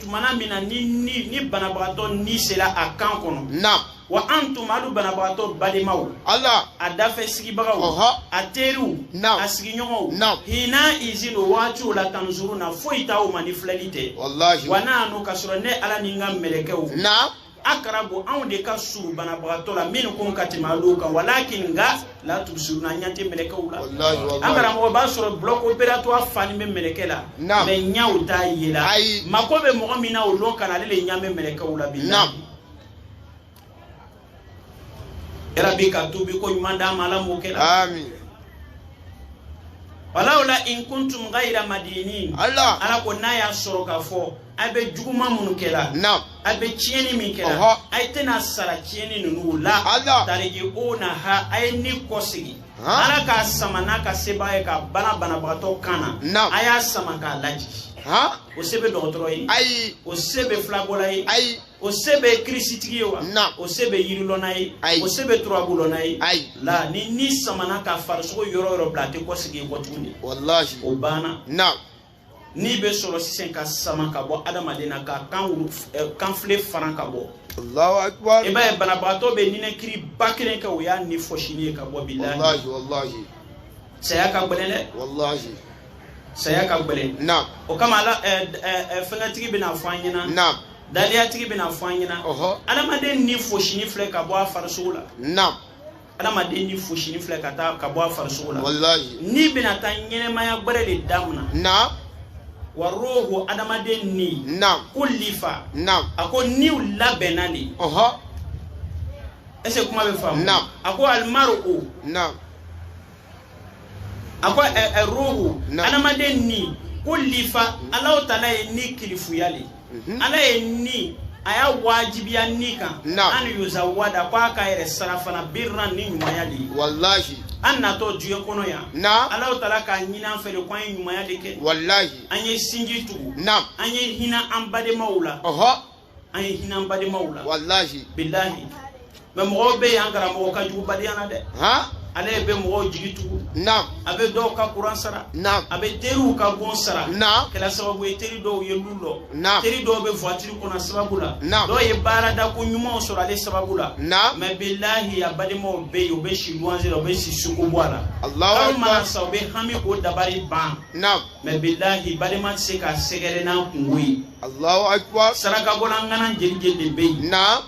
tumana min na ni banabagatɔ ni sela a kan kɔnɔ naam wa antum alu banabagatɔ balemaw ala a dafɛ sigibagaw Ɔhɔ. a teriw Naam. a sigiɲɔgɔnw Naam. hina izin o waati o la tanzuruna foyi t'aw ma ni filɛli tɛ walahi wa nahnu k'a sɔrɔ ne ala ni n ka mɛlɛkɛw na akarabu anw de ka surun banabagatɔ la minkum ka tɛmɛ alu kan walakin nka la tubusiruna ɲɛ tɛ mɛlɛkɛw la an karamɔgɔ b'a sɔrɔ bloc opératoire fani bɛ mɛlɛkɛ la mɛ ɲɛw t'a ye la mako bɛ mɔgɔ min na o lon kana ale de ɲɛ bɛ mɛlɛkɛw la bilahi rabi ka tubi ko ɲuman d'an ma ala m'o kɛ la walawla in kuntum gayira madinin ala ko n'a y'a sɔrɔ ka fɔ a bɛ juguman minnu kɛ la naam a bɛ tiɲɛni min kɛ la Ɔhɔ. a ye tɛna sara tiɲɛni nunu la Ala. tarijiunaha a ye ni kɔsegi Han. ala k'a sama n'a ka sebaaya ye ka bana banabagatɔ kan na Naam. a y'a sama k'a lajigi han o se bɛ dɔgɔtɔrɔ ye ayi o se bɛ filabɔla ye ayi o se bɛ kirisitigi ye wa Naam. o se bɛ yirilɔnna ye Ayi. o se bɛ turabulɔnna ye Ayi. la ni ni samana ka farisogo yɔrɔ yɔrɔ bila a tɛ kɔsegi kɔ tuguni walahi o banna naam ni bɛ sɔrɔ sisan ka sama ka bɔ adamaden na ka kan eh, kanfile faran ka bɔ i b'a ye banabagatɔ bɛ ninakiriba kelen kɛ o y'a ni fɔsini ye ka bɔ bilahi saya ka gɛlɛn dɛ saya ka gɛlɛn o kama ala eh, eh, fɛnkɛtigi bɛna fɔ an ɲɛna daliyatigi bɛna fɔ an ɲɛna adamaden ni fɔsini filɛ ka bɔ a farisogo la adamaden ni fɔsini filɛ ka taa ka bɔ a farisogo la walayi ni bɛna taa ɲɛnɛmaya gbɛrɛ de damina na wa ruhu adamaden ni na kulifa na a ko niw labɛnna de ɔhɔ ɛsɛ kuma bɛ faamu na a ko alimaru o na a ko ruhu adamaden ni kulifa Allahu taala ye ni kilifuya le mhm. ala ye ni a y'a wajibiya ni kan an yuzawada ko a ka yɛrɛ sirafana birran ni ɲumanya le ye walahi an natɔ duniya kɔnɔ yan Allahu taala k'a ɲini an fɛ le ko an ye ɲumanya le kɛ walahi an ye sinji tugu an ye hina an bademaw la an ye hina an bademaw la walahi bilahi mɛ mɔgɔw bɛ yen an karamɔgɔ ka jugu badenya na dɛ ale bɛ mɔgɔw jigi tugu naam a bɛ dɔw ka kuran sara naam a bɛ teriw ka bon sara naam kɛra sababu ye teri dɔw ye lu lɔ naam teri dɔw bɛ voiture kɔnɔ a sababu la naam dɔw ye baarada ko ɲumanw sɔrɔ ale sababu la naam mɛ bilahi a bademaw bɛ yen u bɛ si luwanze la u bɛ si sugu gba la kalo mana sa u bɛ hami k'u dabali ban naam mɛ bilahi badema tɛ se k'a sɛgɛrɛ n'a kunko ye Allahu akbar sarakabɔla ŋana jeli jeli le bɛ yen naam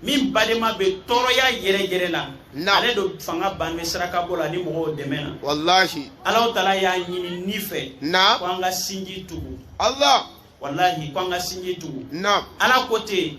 min badema bɛ tɔɔrɔya yɛrɛ yɛrɛ la naam ale don fanga bannen sarakabɔ la ni mɔgɔw dɛmɛ na walahi Allahu taala y'a ɲini ni fɛ naam ko an ka sinji tugu Allah walahi ko an ka sinji tugu naam Ala ko ten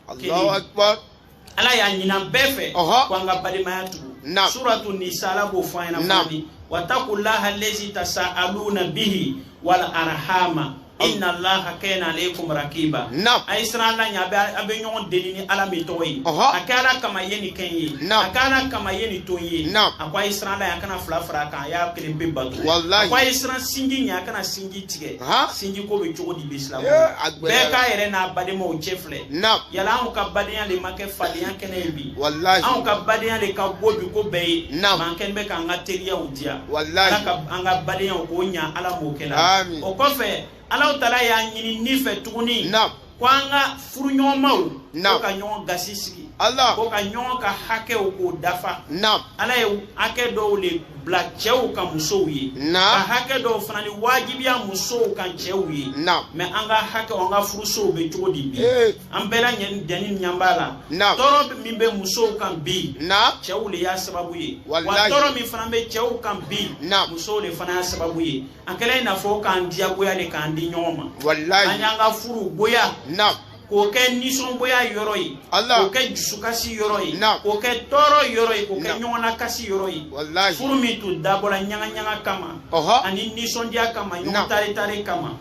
Allahu akbar ala y'a ɲini an bɛɛ fɛ ko an ka badenmaya tugu suratu nisa ala b'o fɔ an ɲɛna fɔli watakullaha lezi tasaaluna bihi wal arhama inna allaha kana alaykum rakiba a ye siran ala ɲɛ a bɛ ɲɔgɔn deli ni ala min tɔgɔ ye a kɛ ala kama ye nin kɛ n ye a kɛ ala kama ye nin to n ye a ko a ye siran ala ɲɛ a kana fila fara a kan a y'a kelen pe bato a ko a ye siran sinji ɲɛ a kana sinji tigɛ sinji ko bɛ cogo di bi silamɛ bɛɛ k'a yɛrɛ n'a badenmaw cɛ filɛ na yala anw ka badenya le ma kɛ fadenya kɛnɛ ye bi walahi anw ka badenya le ka gbo bi ko bɛɛ ye mɛ an kɛnin bɛ k'an ka teriyaw diya walahi ala ka an ka badenyaw k'o ɲa ala m'o kɛla amin o kɔfɛ alaw taala y'a ɲini n'i fɛ tuguni na ko an ka furuɲɔgɔnmaw na ko ka ɲɔgɔn gasi sigi ala ko ka ɲɔgɔn ka hakɛw k'o dafa na ala ye hakɛ dɔw le bila cɛw kan musow ye ka hakɛ dɔw fana ni wajibiya musow kan cɛw ye mɛ an ka hakɛ an ka furusow bɛ cogo di bi an bɛɛ lajɛnin ɲa b'a la tɔɔrɔ min bɛ musow kan bi cɛw le y'a sababu ye wa tɔɔrɔ min fana bɛ cɛw kan bi musow le fana y'a sababu ye a kɛla i n'a fɔ k'an diyagboya le k'an di ɲɔgɔn ma an y'an ka furu gboya k'o kɛ nisɔngboya yɔrɔ ye k'o kɛ jusukasi yɔrɔ ye k'o kɛ tɔɔrɔ yɔrɔ ye k'o kɛ ɲɔgɔnnakasi yɔrɔ ye furu min tun dabɔla ɲagaɲaga kama ani nisɔndiya kama ɲɔgɔn taretare kama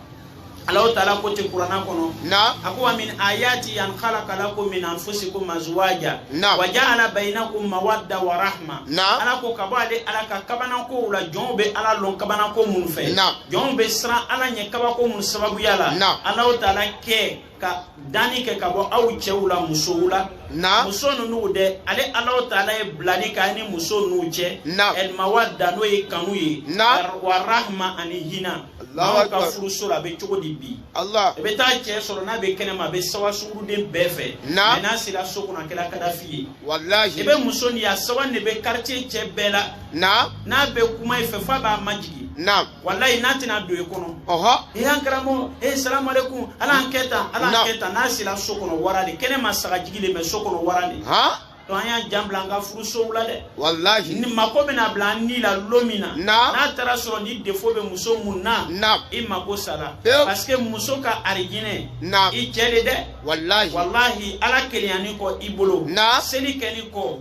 alaw taala ko ten kurana kɔnɔ a ko wa min ayati an khalaqa lakum min anfusikum azwaja wa ja'ala bainakum mawadda wa rahma ala ko ka bɔ ale ala ka kabanankow la jɔnw bɛ ala lɔn kabananko minnu fɛ jɔnw bɛ siran ala ɲɛ kabako minnu sababuya la alaw taala kɛ ka danni kɛ ka bɔ aw cɛw la musow la na muso ninnu dɛ ale alaw taala ye bilali k'a ni muso ninnu cɛ na el mawadda n'o ye kanu ye na wa rahma ani hinɛ aw ka furuso la a bɛ cogo di bi ala i bɛ taa cɛ sɔrɔ n'a bɛ kɛnɛma a bɛ sawa sunguruden bɛɛ fɛ na mɛ n'a sera so kɔnɔ a kɛra kadafi ye walahi i bɛ muso nin ye a sawanin bɛ quartier cɛ bɛɛ la na n'a bɛ kuma i fɛ f'a b'a majigin na walayi n'a tɛna don i kɔnɔ e an karamɔgɔ e eh, salamu aleykum ala an kɛ tan ala an kɛ tan n'a sera so kɔnɔ wara le kɛnɛma sagajigi le mɛ so kɔnɔ wara le donc an y'an jan bila an ka furusow la dɛ walahi ni mako bɛna bila an n'i la lon min na n'a taara sɔrɔ ni defo bɛ muso mun na i mako sara parce que muso ka arijinɛ i cɛ le dɛ walahi walahi ala kelenyanin kɔ i bolo seli kɛnin kɔ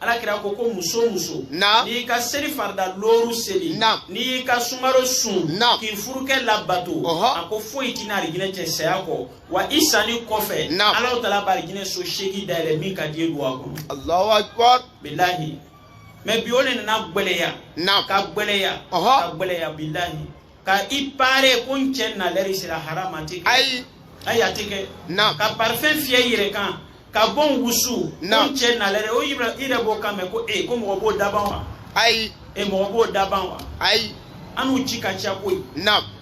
ala kira ko ko muso muso n'i ka seli farida looru seli n'i ka sungaro sun k'i furukɛ labato a ko foyi t'i n'arijinɛ cɛ saya kɔ wa i sanin kɔfɛ ala taala bɛ arijinɛ so seegin dayɛlɛ min ka di i ye don a kɔnɔ. alahu akibar. bilahi mɛ bi o le nana gbɛlɛya. ka gbɛlɛya. ka gbɛlɛya bilahi. ka i pare ko n cɛ na lɛri sera harama tɛ kɛ ayi ayi a tɛ kɛ ka parfɛn fiyɛ i yɛrɛ kan ka bon wusu ko n cɛ na lɛri o i yɛrɛ b'o kan mɛn ko ee ko mɔgɔ b'o daban wa ayi e mɔgɔ b'o daban wa ayi an n'u ci ka ca koyi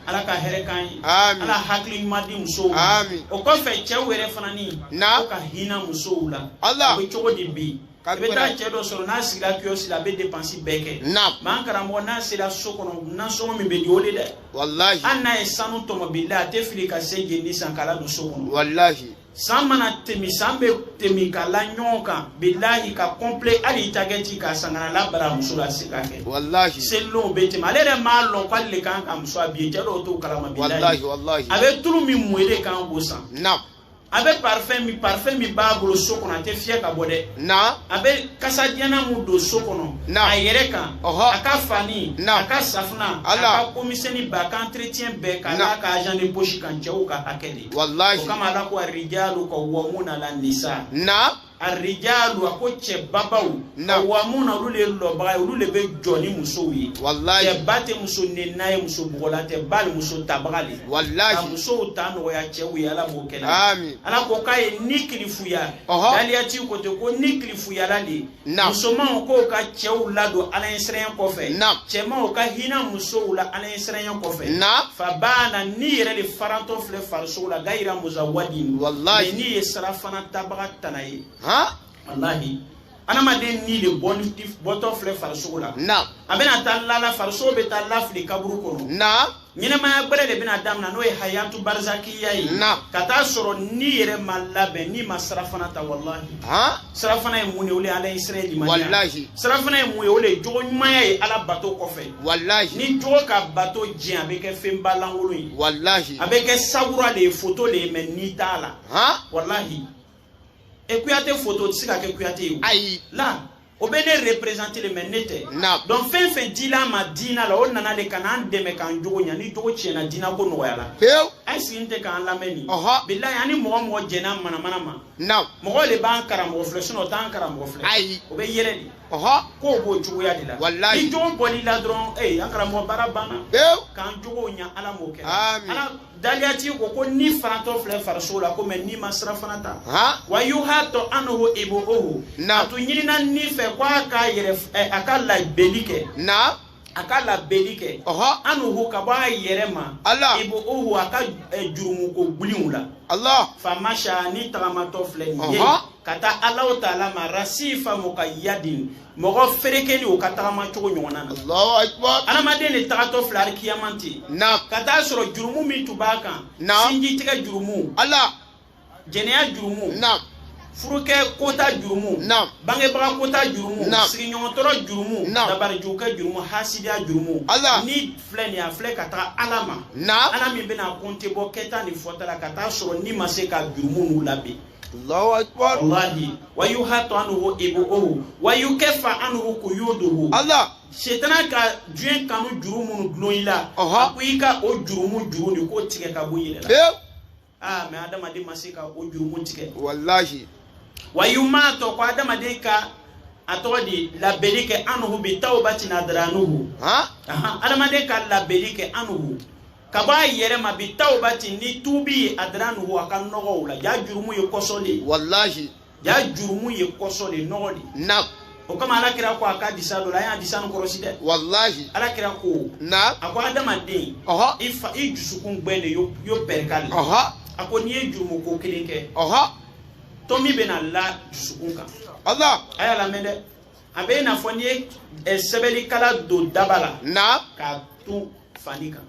ala ka hɛrɛ k'an ye ala hakili ɲuman di musow ma o kɔfɛ cɛw yɛrɛ fana ni k'o ka hinɛ musow la o bɛ cogo di bi i bɛ taa cɛ dɔ sɔrɔ n'a sigila kiyɔsi la a bɛ depansi bɛɛ kɛ mɛ an karamɔgɔ n'a sera so kɔnɔ nasɔngɔ min bɛ di o de dɛ walahi hali n'a ye sanu tɔmɔ bilahi a tɛ fili ka syɛ jeni san k'a ladon so kɔnɔ walahi san mana tɛmɛ san bɛ tɛmɛ ka la ɲɔgɔn kan bilahi ka kɔnpile hali i ta kɛ ci ka san ka n'a la baramuso la se ka kɛ walahi seli lonw bɛ tɛmɛ ale yɛrɛ m'a lɔn k'ale de kan ka muso habiller cɛ dɔw t'o kalama bilahi a bɛ tulu min mun e le kan k'o san a bɛ parfɛn min parfɛn min b'a bolo so kɔnɔ a tɛ fiyɛ ka bɔ dɛ na a bɛ kasadiyanan min don so kɔnɔ na a yɛrɛ kan a ka fani na a ka safunɛ a ka komisɛni ba a ka entretien bɛɛ ka n'a ka argent de poche kan cɛw ka hakɛ de walahi o kama ala ko arijalu kawamuna ala nisa na arijalu a ko cɛ babaw kawamuna olu le lɔbaga ye olu le bɛ jɔ ni musow ye cɛba tɛ muso nenina ye muso bugɔla cɛba le muso tabaga le ka musow ta nɔgɔya cɛw ye ala b'o kɛ na ala ko k'a ye ni kilifuya daliyati ko ten ko ni kilifuyala le musomanw k'o ka cɛw ladon ala ɲɛsiranya kɔfɛ cɛmanw ka hinɛ musow la ala siranya kɔfɛ na fa bana ni yɛrɛ de farantɔ filɛ farisogo la gayira muzawadi wallahi ni ye sirafana tabaga tana ye ha wallahi adamaden ni de bɔtɔ filɛ farisogo la na a bɛna taa lala farisogo bɛ taa lafili kaburu kɔnɔ na ɲɛnɛmaya gbɛrɛ de bɛna damina n'o ye hayatu barizakiya ye na ka taa sɔrɔ ni yɛrɛ ma labɛn ni ma sirafana ta wallahi ha sirafana ye mun de o de ye ala ɲɛsiran ye limaniya sirafana ye mun ye o de ye jogo ɲumanya ye ala bato kɔfɛ ni jogo ka bato tiɲɛ a bɛ kɛ fɛnba lankolon ye a bɛ kɛ sawura de ye foto de ye mɛ ni t'a la walahi e kuyate foto o tɛ se ka kɛ kuyate ye ayi la o bɛ ne représenter le mɛ ne tɛ donc fɛn fɛn dil'an ma diina la o nana de ka n'an dɛmɛ k'an jogo ɲa ni jogo tiɲɛna diina ko nɔgɔyala pewu a ye sigi n tɛ k'an lamɛn nin bilayi ani mɔgɔ mɔgɔ jɛnna manamana ma naamu mɔgɔ de b'an karamɔgɔ filɛ sinɔn o t'an karamɔgɔ filɛ ayi o bɛ yɛlɛ de ɔhɔ k'o b'o cogoya de la walayi ni jogo bɔl'i la dɔrɔn ee an karamɔgɔ baara banna pewu k'an jogow ɲa ala m'o kɛ Amin. ala daliyatigi ko ko ni farantɔ filɛ farisogo la ko mɛ ni ma sirafana ta han wa yuhatu anhu ibuhu Naamu. a tun ɲinina ni fɛ ko a ka yɛrɛ ɛ, a ka labɛnni kɛ naamu a ka labenni kɛ anhu ka bɔ a yɛrɛ ma ibuhu a ka eh, jurumuko gbiliw la famasha ni tagamatɔ filɛ nin ye ka taa Allahu taala ma rasifa muqayyadin mɔgɔ ferekenin o ka tagama cogo ɲɔgɔn na adamaden de tagatɔ filɛ arikiyama ten ka taa sɔrɔ jurumu min tun b'a kan sinji tigɛ jurumu jɛnɛya jurumu naam furukɛ kota jurumu naam bangebaga kota jurumu naam sigiɲɔgɔntɔrɔ jurumu naam dabarijugukɛ jurumu hasidiya jurumu ala ni filɛ nin a filɛ ka taga ala ma naam ala min bɛna konte bɔ kɛta ni fɔta la ka taa sɔrɔ ni ma se ka jurumu nu laben Allahu akbar wallahi wa yuhatu anhu ibuhu wa yukaffa anhu quyuduhu Allah setana ka diɲɛ kanu juru minnu dulon i la a ko i ka o jurumu juru nin k'o tigɛ ka bɔ i yɛrɛ la aa mais adamaden ma se ka o jurumu tigɛ walahi wa yumato ko adamaden ka a tɔgɔ di labenni kɛ anhu bi tawbatin adranuhu adamaden ka labenni kɛ anhu ka bɔ a yɛrɛ ma bi tawbati ni tubi ye adranuhu a ka nɔgɔw la jaa jurumu ye kɔsɔ de ye walahi jaa jurumu ye kɔsɔ de nɔgɔ de naam o kama ala kira ko a k'adisa dɔ la a y'adisa nin kɔrɔsi dɛ walahi ala kira ko na a ko adamaden ɔhɔ i fa i dusukun gbɛ de yo pɛrikali ɔhɔ a ko n'i ye jurumu ko kelen kɛ ɔhɔ tomi bɛna la dusukun kan ala a y'a lamɛn dɛ a bɛ i n'a fɔ n'i ye ɛ sɛbɛnnikala don daba la naam k'a to fani kan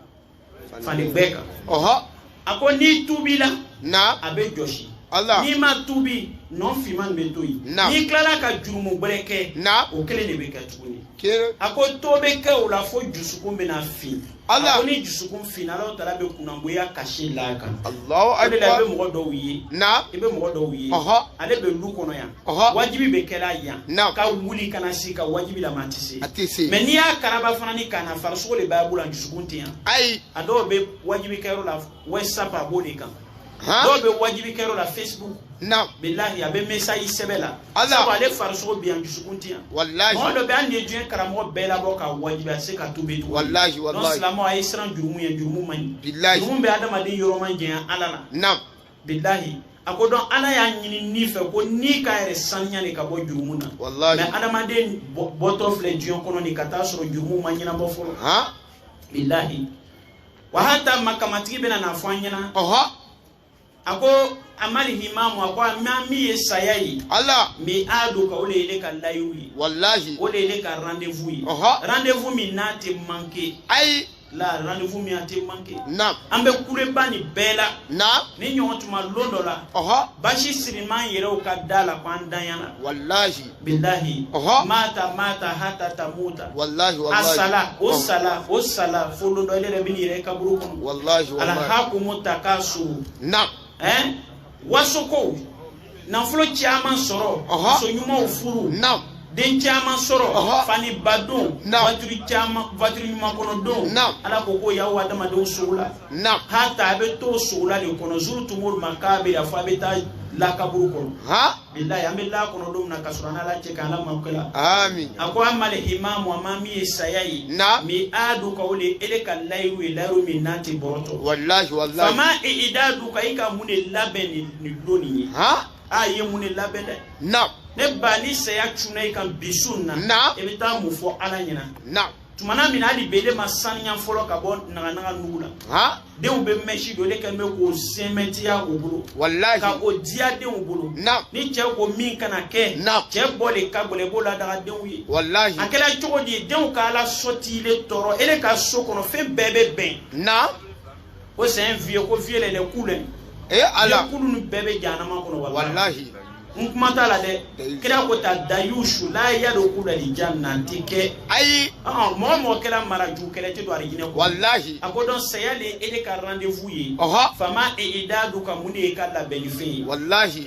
fani gbɛ kan ɔhɔ a ko n'i tubila na a bɛ jɔsi Allah. n'i ma tubi nɔ finman bɛ to yen Naam. n'i tilala ka jurumu gbɛrɛ kɛ na o kelen de bɛ kɛ tuguni kere a ko to bɛ kɛ o la fo dusukun bɛna fin Allah. a ko ni dusukun finna ala taala bɛ kunnagoya cachet l'a kan allahu o de la i bɛ akbar mɔgɔ dɔw ye na i bɛ mɔgɔ dɔw ye Ɔhɔ. ale bɛ lu kɔnɔ yan wajibi bɛ kɛla yan ka wuli ka na sigi ka wajibi lamɛn a tɛ se mais n'i y'a karaba fana ni ka na farisogo de b'a bolo a dusukun tɛ yan ayi a dɔw bɛ wajibi kɛyɔrɔ la whatsapp a b'o de kan dɔw bɛ wajibi kɛyɔrɔ la facebook bilahi a bɛ message sɛbɛn la sabu ale farisogo bɛ yan dusukun tɛ yan mɔgɔ dɔ bɛ hali n'i ye diɲɛ karamɔgɔ bɛɛ labɔ ka wajibi a se ka tubi tugun donc silamɛw a ye siran jurumu ɲɛ jurumu man ɲi jurumu bɛ adamaden yɔrɔ majanya ala la bilahi a ko dɔn ala y'a ɲini ni fɛ ko ni k'a yɛrɛ saniya de ka bɔ jurumu na mais adamaden bɔtɔ filɛ diɲɛ kɔnɔ nin ka taa sɔrɔ jurumu ma ɲɛnabɔ fɔlɔ bilahi wa hata makamatigi bɛna n'a fɔ an ɲɛ na a ko ammal himamu a ko amma min ye saya ye ala miaduka o de ye ile ka layidu ye walahi o de ye ile ka rendez-vous ye rendez-vous min n'a tɛ manquer ayi la rendez-vous min a tɛ manqué naam an bɛ kule ba nin bɛɛ la naam ni ɲɔgɔn tuma lon dɔ la ɔhɔ basi siriman yɛrɛw ka da la ko an danyana walahi bilahi Ɔhɔ. mata mata hata tamuta walahi a walahi sala o Ɔhɔ. sala o sala fo lon dɔ ale yɛrɛ bɛ n'i yɛrɛ kaburu kɔnɔ walahi walahi alahakumu takasu naam ɛn wasokow nafolo caman sɔrɔ muso ɲumanw furu den caman sɔrɔ faniba don vatiri caman vatiri ɲuman kɔnɔ don ala ko ko y'aw adamadenw sogo la hata a bɛ to sogo la de kɔnɔ zurutumul makabira fɔ a bɛ taa la kaburu kɔnɔ bilayi an bɛ la kɔnɔ don min na ka sɔrɔ an ala cɛ k'an la mako la. amin. a ko amal himamu a ma min ye saya ye. na. miaduka o de ele ka layiru ye layiru min n'a tɛ bɔrɔtɔ. walahi walahi. fama idaduka i ka mun de labɛn nin nin don nin ye. han. a ye mun de labɛn dɛ. na. ne ba ni saya cunna i kan bi su in na. na. i bɛ taa mun fɔ ala ɲɛna. na. tuma na min na hali bele ma saniya fɔlɔ ka bɔ naganaga nugu la denw bɛ mɛsi don le kɛ n bɛ k'o sɛmɛntiya u bolo walayi ka o diya denw bolo ni cɛ ko min kana kɛ cɛ bɔ de ka gɛlɛn i b'o ladaga denw ye walayi a kɛra cogo di denw ka la sortie le tɔɔrɔ e ka so kɔnɔ fɛn bɛɛ bɛ bɛn ko c'est un vieux ko vieux lele kule e ala kulu ni bɛɛ bɛ janama kɔnɔ wallahi n kuma t'a la dɛ kira ko ta dayushu la yadokulul jannati kɛ ayi ɔn mɔgɔ mɔgɔ kɛra marajugukɛla tɛ don alijinɛ kɔ wallahi a ko donc saya le ele ka rendez-vous ye fama idaduka mun de y'i ka labɛnnifɛn ye wallahi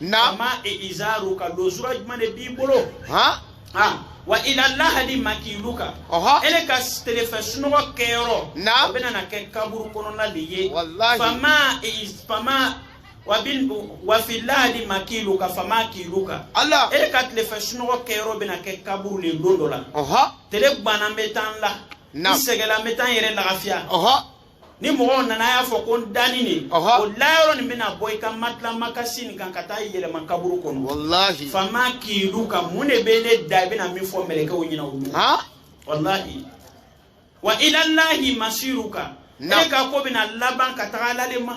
na fama izaruka lozura jumɛn de b'i bolo han ah wa ila lahadi makiluka ele ka telefɛ sunɔgɔ kɛyɔrɔ o bɛna na kɛ kaburu kɔnɔna de ye fama wa fi lahadi makiluka fama kiluka ele ka telefɛ sunɔgɔ kɛyɔrɔ bɛna kɛ kaburu de don dɔ la tele gbana n bɛ taa n la n sɛgɛla n bɛ taa n yɛrɛ lagafiya ni mɔgɔw nana y'a fɔ ko n danin ne o layɔrɔ nin bɛna bɔ i ka matila makasi nin kan ka taa yɛlɛma kaburu kɔnɔ walahi fama kiluka mun de b'ele da i bɛna min fɔ mɛlɛkɛw ɲɛna olu walahi wa ilalahi masiruka ele ka ko bɛna laban ka taga ala de ma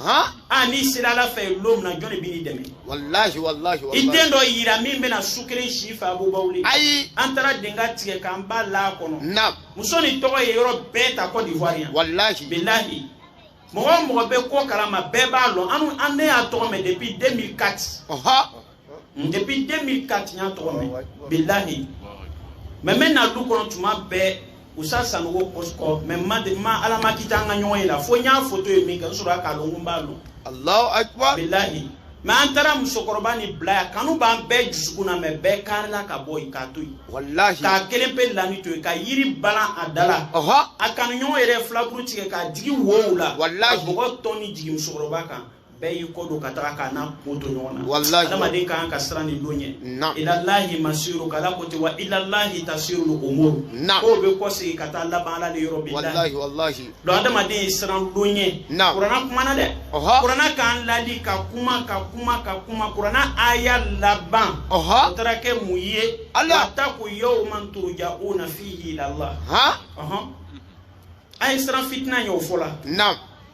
a ah, n'i sera ala fɛ yen don min na jɔn de b'i dɛmɛ walahi walahi i den dɔ yira min bɛna su kelen si i fɛ abubaw le ayi an taara denka tigɛ k'an ba la kɔnɔ na muso nin tɔgɔ ye yɔrɔ bɛɛ ta Côte d'Ivoire yan walahi bilahi mɔgɔ o mɔgɔ bɛ ko kalama bɛɛ b'a lɔn an ne y'a tɔgɔ mɛn depuis 2004 hmm, depuis 2004 n y'a tɔgɔ mɛn bilahi mɛ n bɛ na du kɔnɔ tuma bɛɛ usa sanogo kɔsikɔ mɛ ma de ma ala ma kita an ka ɲɔgɔn ye la fo n y'a foto ye min kɛ n sɔrɔ k'a lɔn ko n b'a lɔn alahu akibar bilahi mɛ an taara musokɔrɔba nin bila a kanu b'an bɛɛ jusukun na mɛ bɛɛ karila ka bɔ yen k'a to yen walahi k'a kelen pe lani to yen ka yiri balan a da la a kanuɲɔgɔn yɛrɛ filaburu tigɛ k'a jigi wow la walahi ka bɔgɔ tɔn ni jigin musokɔrɔba kan bɛɛ y'i kɔ don ka taa k'a n'a ko to ɲɔgɔn na walahi adamaden ka kan ka siran nin don ɲɛ ilalahi masiru k'ala ko ten wa ilalahi tasirul umuru ko bɛ kɔsegin ka taa laban ala de yɔrɔ bilahi walahi donc adamaden ye siran don ɲɛ kurana kumana dɛ ɔhɔ kurana k'an ladi ka kuma ka kuma ka kuma kurana aya laban ɔhɔ o taara kɛ mun ye ala wa taku yawman turja'una fihi ila allah han ɔhɔn a ye siran fitina ɲɛ o fɔ la na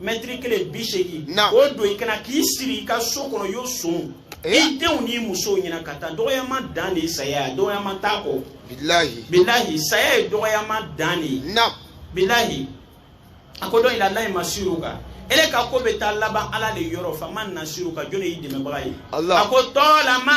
mɛtiri kelen bi seegin o don i kan na k'i siri i ka so kɔnɔ y'o son eh? i denw n'i musow ɲɛna ka taa dɔgɔyama dan de ye saya ye dɔgɔyama t'a kɔ bilahi bilahi saya ye dɔgɔyama dan de ye bilahi a ko dɔn ilalahi masiruka ele ka ko bɛ taa laban ala de yɔrɔ faman nasiruka jɔn de y'i dɛmɛbaga ye a ko tɔɔlama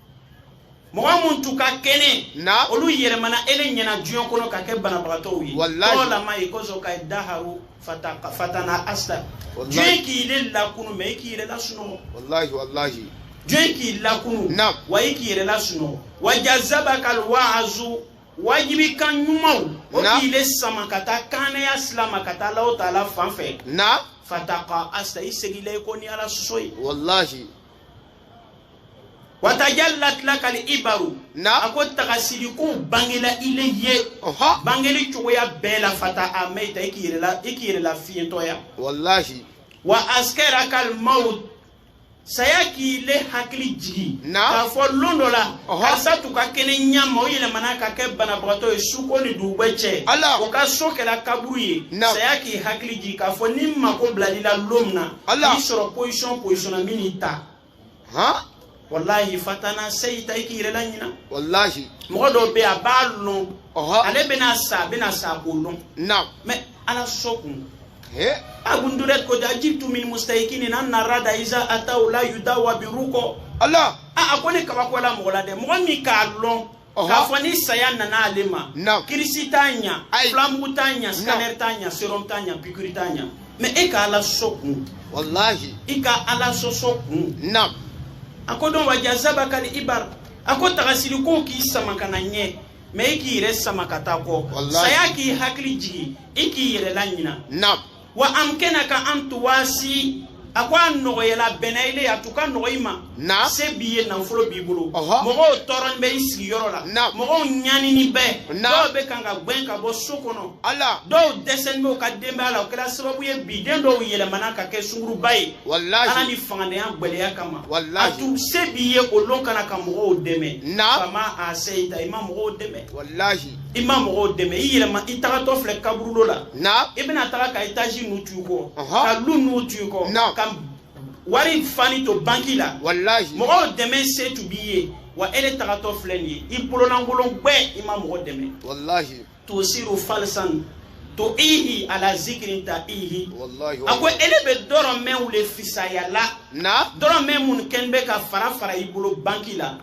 mɔgɔ minnu tun ka kɛnɛ olu yɛlɛmana ele ɲɛna diɲɛ kɔnɔ ka kɛ banabagatɔw ye tɔɔlama ayikazaka daharu fatana asta diɲɛ k'ile lakunu mɛ i k'i yɛrɛ lasunɔgɔ walahi walahi diɲɛ k'i lakunu wa i k'i yɛrɛ lasunɔgɔ wa jazaba kal waazu wajibi kan ɲumanw o k'ile sama ka taa kanaya sila ma ka taa alahu taala fan fɛ fataka asta i segin la i kɔ ni ala sɔsɔ ye walahi watajallat laka al ibaru a ko tagasirikow bangela i le ye bangeli cogoya bɛɛ la fata a mɛita i k'i yɛrɛ lafiyentɔya wallahi wa askarakal maut saya k'i le hakili jigi k'a fɔ lon dɔ la karisa tun ka kɛnɛ ɲɛma o yɛlɛmana ka kɛ banabagatɔ ye suko ni dugugbɛ cɛ o ka so kɛla kaburu ye saya k'i hakili jigi k'a fɔ ne mako b'ile le la lon min na Allah n'i sɔrɔ position position na n bɛn'i ta han walahi fatanaseyita i k'i yɛrɛ laɲina walahi mɔgɔ dɔw bɛ yen a b'a lɔn ale bɛna sa a bɛna sa k'o lɔn naam mais ala sɔ kun ibn durayd ko ajibtu min mustayikinin anna rada iza atahu la yudawa birukɔ Allah a a ko ne kabako la mɔgɔ la dɛ mɔgɔ min k'a lɔn k'a fɔ ni saya nana ale ma kirisi t'a ɲa fulamugu t'a ɲa scanner t'a ɲa serum t'a ɲa pikiri t'a ɲa mɛ e ka ala sɔ kun walahi i ka ala sɔsɔ kun a ko dɔn waja zaba kali ibar a ko tagasiri ko k'i sama ka na ɲɛ mɛ i k'i yɛrɛ sama ka taa kɔ saya k'i hakili jigi i k'i yɛrɛ laɲina wa amkenaka an tuwasi a ko a nɔgɔyɛla bɛnɛile a tu ka nɔgɔ i ma na se b'i ye nafolo b'i bolo mɔgɔw tɔɔrɔni bɛ i sigiyɔrɔ la na mɔgɔw ɲanini bɛɛ na dɔw bɛ kan ka gbɛn ka bɔ so kɔnɔ ala dɔw dɛsɛni bɛ u ka denbaya la o kɛra sababu ye bi den dɔw yɛlɛmana ka kɛ sunguruba ye walahi ala ni fangantanya gbɛlɛya kama walahi a tu se b'i ye o lon kana ka mɔgɔw dɛmɛ na fama aseita i ma mɔgɔw dɛmɛ walahi i ma mɔgɔw dɛmɛ i yɛlɛma i tagatɔ filɛ kaburulo la i bɛna taga ka etazi nu to i kɔ ka lu nu to i kɔ ka wari fani to banki la mɔgɔw dɛmɛ se tu b'i ye wa ele tagatɔ filɛ nin ye i bololankolon gbɛ i ma mɔgɔ dɛmɛ tosiru falsan to ihi ala zikirin ta ihi a ko ele bɛ dɔrɔmɛw de fisaya la dɔrɔmɛ minnu kɛni bɛ ka fara fara i bolo banki la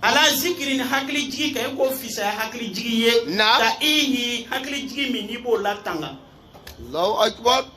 ala zikirin hakilijigi kan i k'o fisaya hakilijigi ye ta ihi hakilijigi min n'i b'o latanga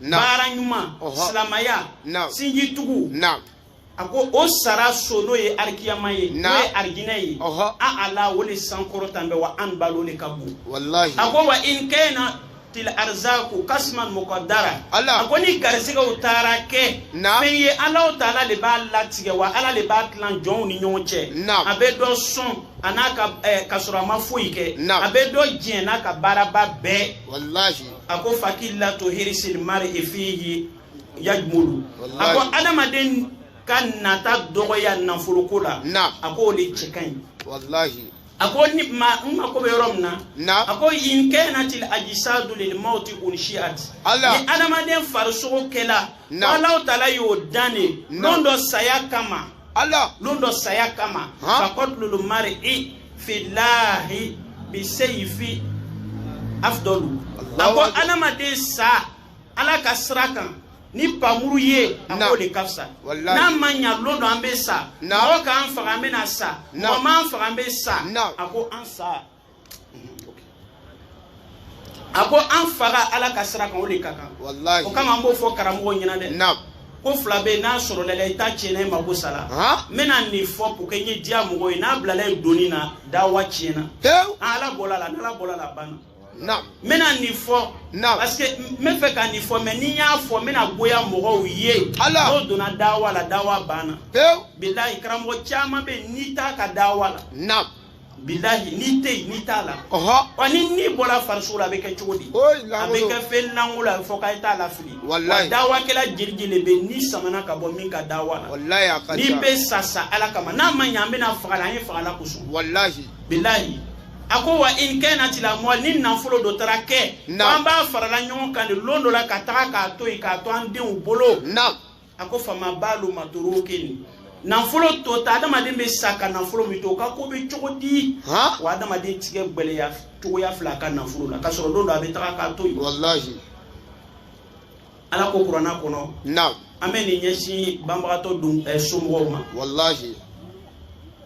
baara ɲuman silamaya sinji tugu a ko o sara so n'o ye arikiyama ye n'o ye arijinɛ ye aala o de sankɔrɔtani bɛ wa anbalu o de ka bon a ko wa in kanatil arzaku kasman muqaddara a ko ni garisigɛw taara kɛ fɛn ye alahu taala de b'a latigɛ wa ala de b'a tilan jɔnw ni ɲɔgɔn cɛ a bɛ dɔ sɔn a n'a ka eh, ka sɔrɔ a ma foyi kɛ a bɛ dɔ jɛn n'a ka baaraba bɛɛ a ko fakillatu hirisil mari fihi yajmulu a ko adamaden ka nata dɔgɔya nafoloko la a ko o de cɛ ka ɲi a ko ni ma n mako bɛ yɔrɔ min na a ko in kanatil ajisadu lil mauti unshiat ni adamaden farisogo kɛla ko alahu taala y'o dan de lon dɔ saya kama lon dɔ saya kama fakatulul mari i filahi bi seyifi afudalu a ko adamaden sa ala ka sira kan ni pamuru ye a k'o de ka fisa n'a ma ɲa lon dɔ an bɛ sa mɔgɔ k'an faga an bɛna sa mɔgɔ m'an faga an bɛ sa a ko an sa. a ko an faga ala ka sira kan o de ka kan o kama n b'o fɔ karamɔgɔ ɲɛna dɛ ko fila bɛ n'a sɔrɔla i la i ta tiɲɛna i mako sara n bɛna nin fɔ pour que n ye diya mɔgɔ ye n'a bilala ye doni na dawa tiɲɛna ala bɔra a la n'ala bɔra a la banna n bɛna nin fɔ parce que n bɛ fɛ ka nin fɔ mais ni n y'a fɔ n bɛna goya mɔgɔw ye n'o donna dawa la dawa banna bilahi karamɔgɔ caman bɛ yen n'i t'a ka dawa la bilahi n'i tɛ yen n'i t'a la wa ni ni bɔla farisogo la a bɛ kɛ cogo di a bɛ kɛ fɛn lankolon fɔ ka i ta lafili wa dawakɛla jiriji de bɛ ni samana ka bɔ min ka dawa la n'i bɛ sa sa ala kama n'a ma ɲɛ an bɛna faga la an ye faga ala kosɔn bilahi a ko wa in kanati lamɔ ni nafolo dɔ taara kɛ an b'a farala ɲɔgɔn kan de lon dɔ la ka taga k'a to yen k'a to an denw bolo a ko fama balu maturukin nafolo tota adamaden bɛ sa ka nafolo min to o ka ko bɛ cogo di wa adamaden tigɛ gbɛlɛya cogoya filɛ a ka nafolo la ka sɔrɔ don dɔ a bɛ taga k'a to yen walahi ala ko kuranna kɔnɔ naam an bɛ nin ɲɛsin banbagatɔ dun eh, somɔgɔw ma walahi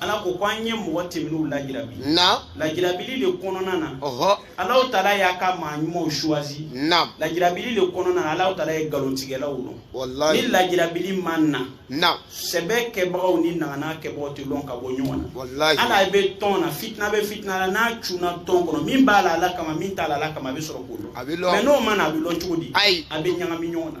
ala ko ko an ye mɔgɔ tɛmɛnenw lajirabi lajirabili de kɔnɔna na ɔhɔ ala taala y'a ka maa ɲumanw choisi na lajirabili de kɔnɔna na ala taala ye nkalontigɛlaw lɔn walayi ni lajirabili ma na sɛbɛ kɛbagaw ni naganaga kɛbagaw tɛ lɔn ka bɔ ɲɔgɔn na walayi ala bɛ tɔn na fitina bɛ fitina la n'a cunna tɔn kɔnɔ min b'a la ala kama min t'a la ala kama a bɛ sɔrɔ k'o lɔn a bɛ lɔn mais n'o ma na a bɛ lɔn cogo di ayi a bɛ ɲagami ɲɔgɔn na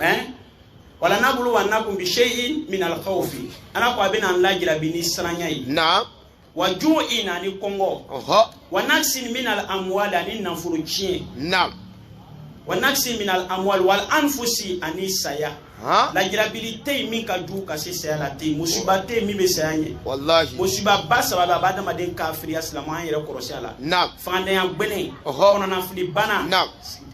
eh? wala nabluwannakum bi shay'in min alkhawfi ala ko a bɛna an lajirabi ni siranya ye naam wa ju'in ani kɔngɔ ɔhɔ wa naqsin min al amwali ani nafolo tiɲɛ naam wa naqsin min al amwali wal anfusi ani saya han lajirabili tɛ yen min ka jugu ka se saya la tɛ yen musiba tɛ yen min bɛ saya ɲɛ walahi musiba ba saba bɛ a bɛ adamaden kafiriya silamɛ an yɛrɛ kɔrɔsi a la naam fangantanya gbɛlɛn Ɔhɔ. kɔnɔnafili bana naam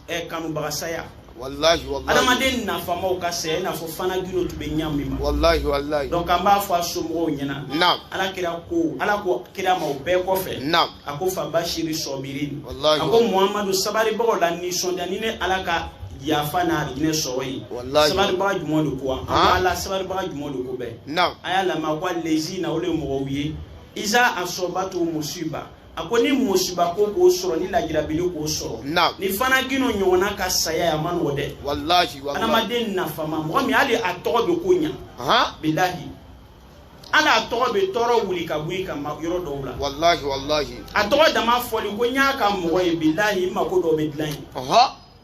ɛ kanubaga saya walahi walahi adamaden nafamaw ka saya i n'a fɔ fana gino tun bɛ ɲa min ma walahi walahi donc an b'a fɔ a somɔgɔw ɲɛna naam ala kira ko ala ko kira ma o bɛɛ kɔfɛ naam a ko fa bashiri sɔbirin walahi a ko muhamadu sabaribagaw la nisɔndiya ni ne ala ka yafa n'a arijinɛ sɔrɔ ye sabaribaga jumɛn de ko ala sabaribaga jumɛn de ko bɛ naam a y'a lamɛn a ko alezina o de ye mɔgɔw ye iza asɔbatu musiba a ko ni musibako k'o sɔrɔ ni lajirabili k'o sɔrɔ ni fana gino ɲɔgɔnna ka saya a man nɔgɔ dɛ adamaden nafama mɔgɔ min hali a tɔgɔ bɛ ko ɲa bilahi hali a tɔgɔ bɛ tɔɔrɔ wuli ka bɔ i kama yɔrɔ dɔw la a tɔgɔ dama fɔli ko n y'a ka mɔgɔ ye bilahi n mako dɔw bɛ dilan yen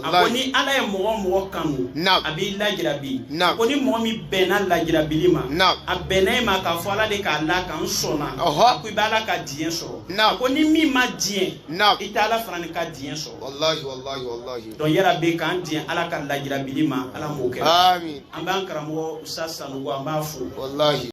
a ko ni ala ye mɔgɔ mɔgɔ kanu a b'i lajirabi a ko ni mɔgɔ min bɛnna lajirabili ma a bɛnna e ma k'a fɔ ala de k'a la n kan n sɔnna a ko i bɛ ala ka diɲɛ sɔrɔ a ko ni min ma diɲɛ i tɛ ala fana ni ka diɲɛ sɔrɔ donc yala bɛ k'an diɲɛ ala ka lajirabili ma ala m'o kɛ an b'an karamɔgɔ usa sanogo an b'a fo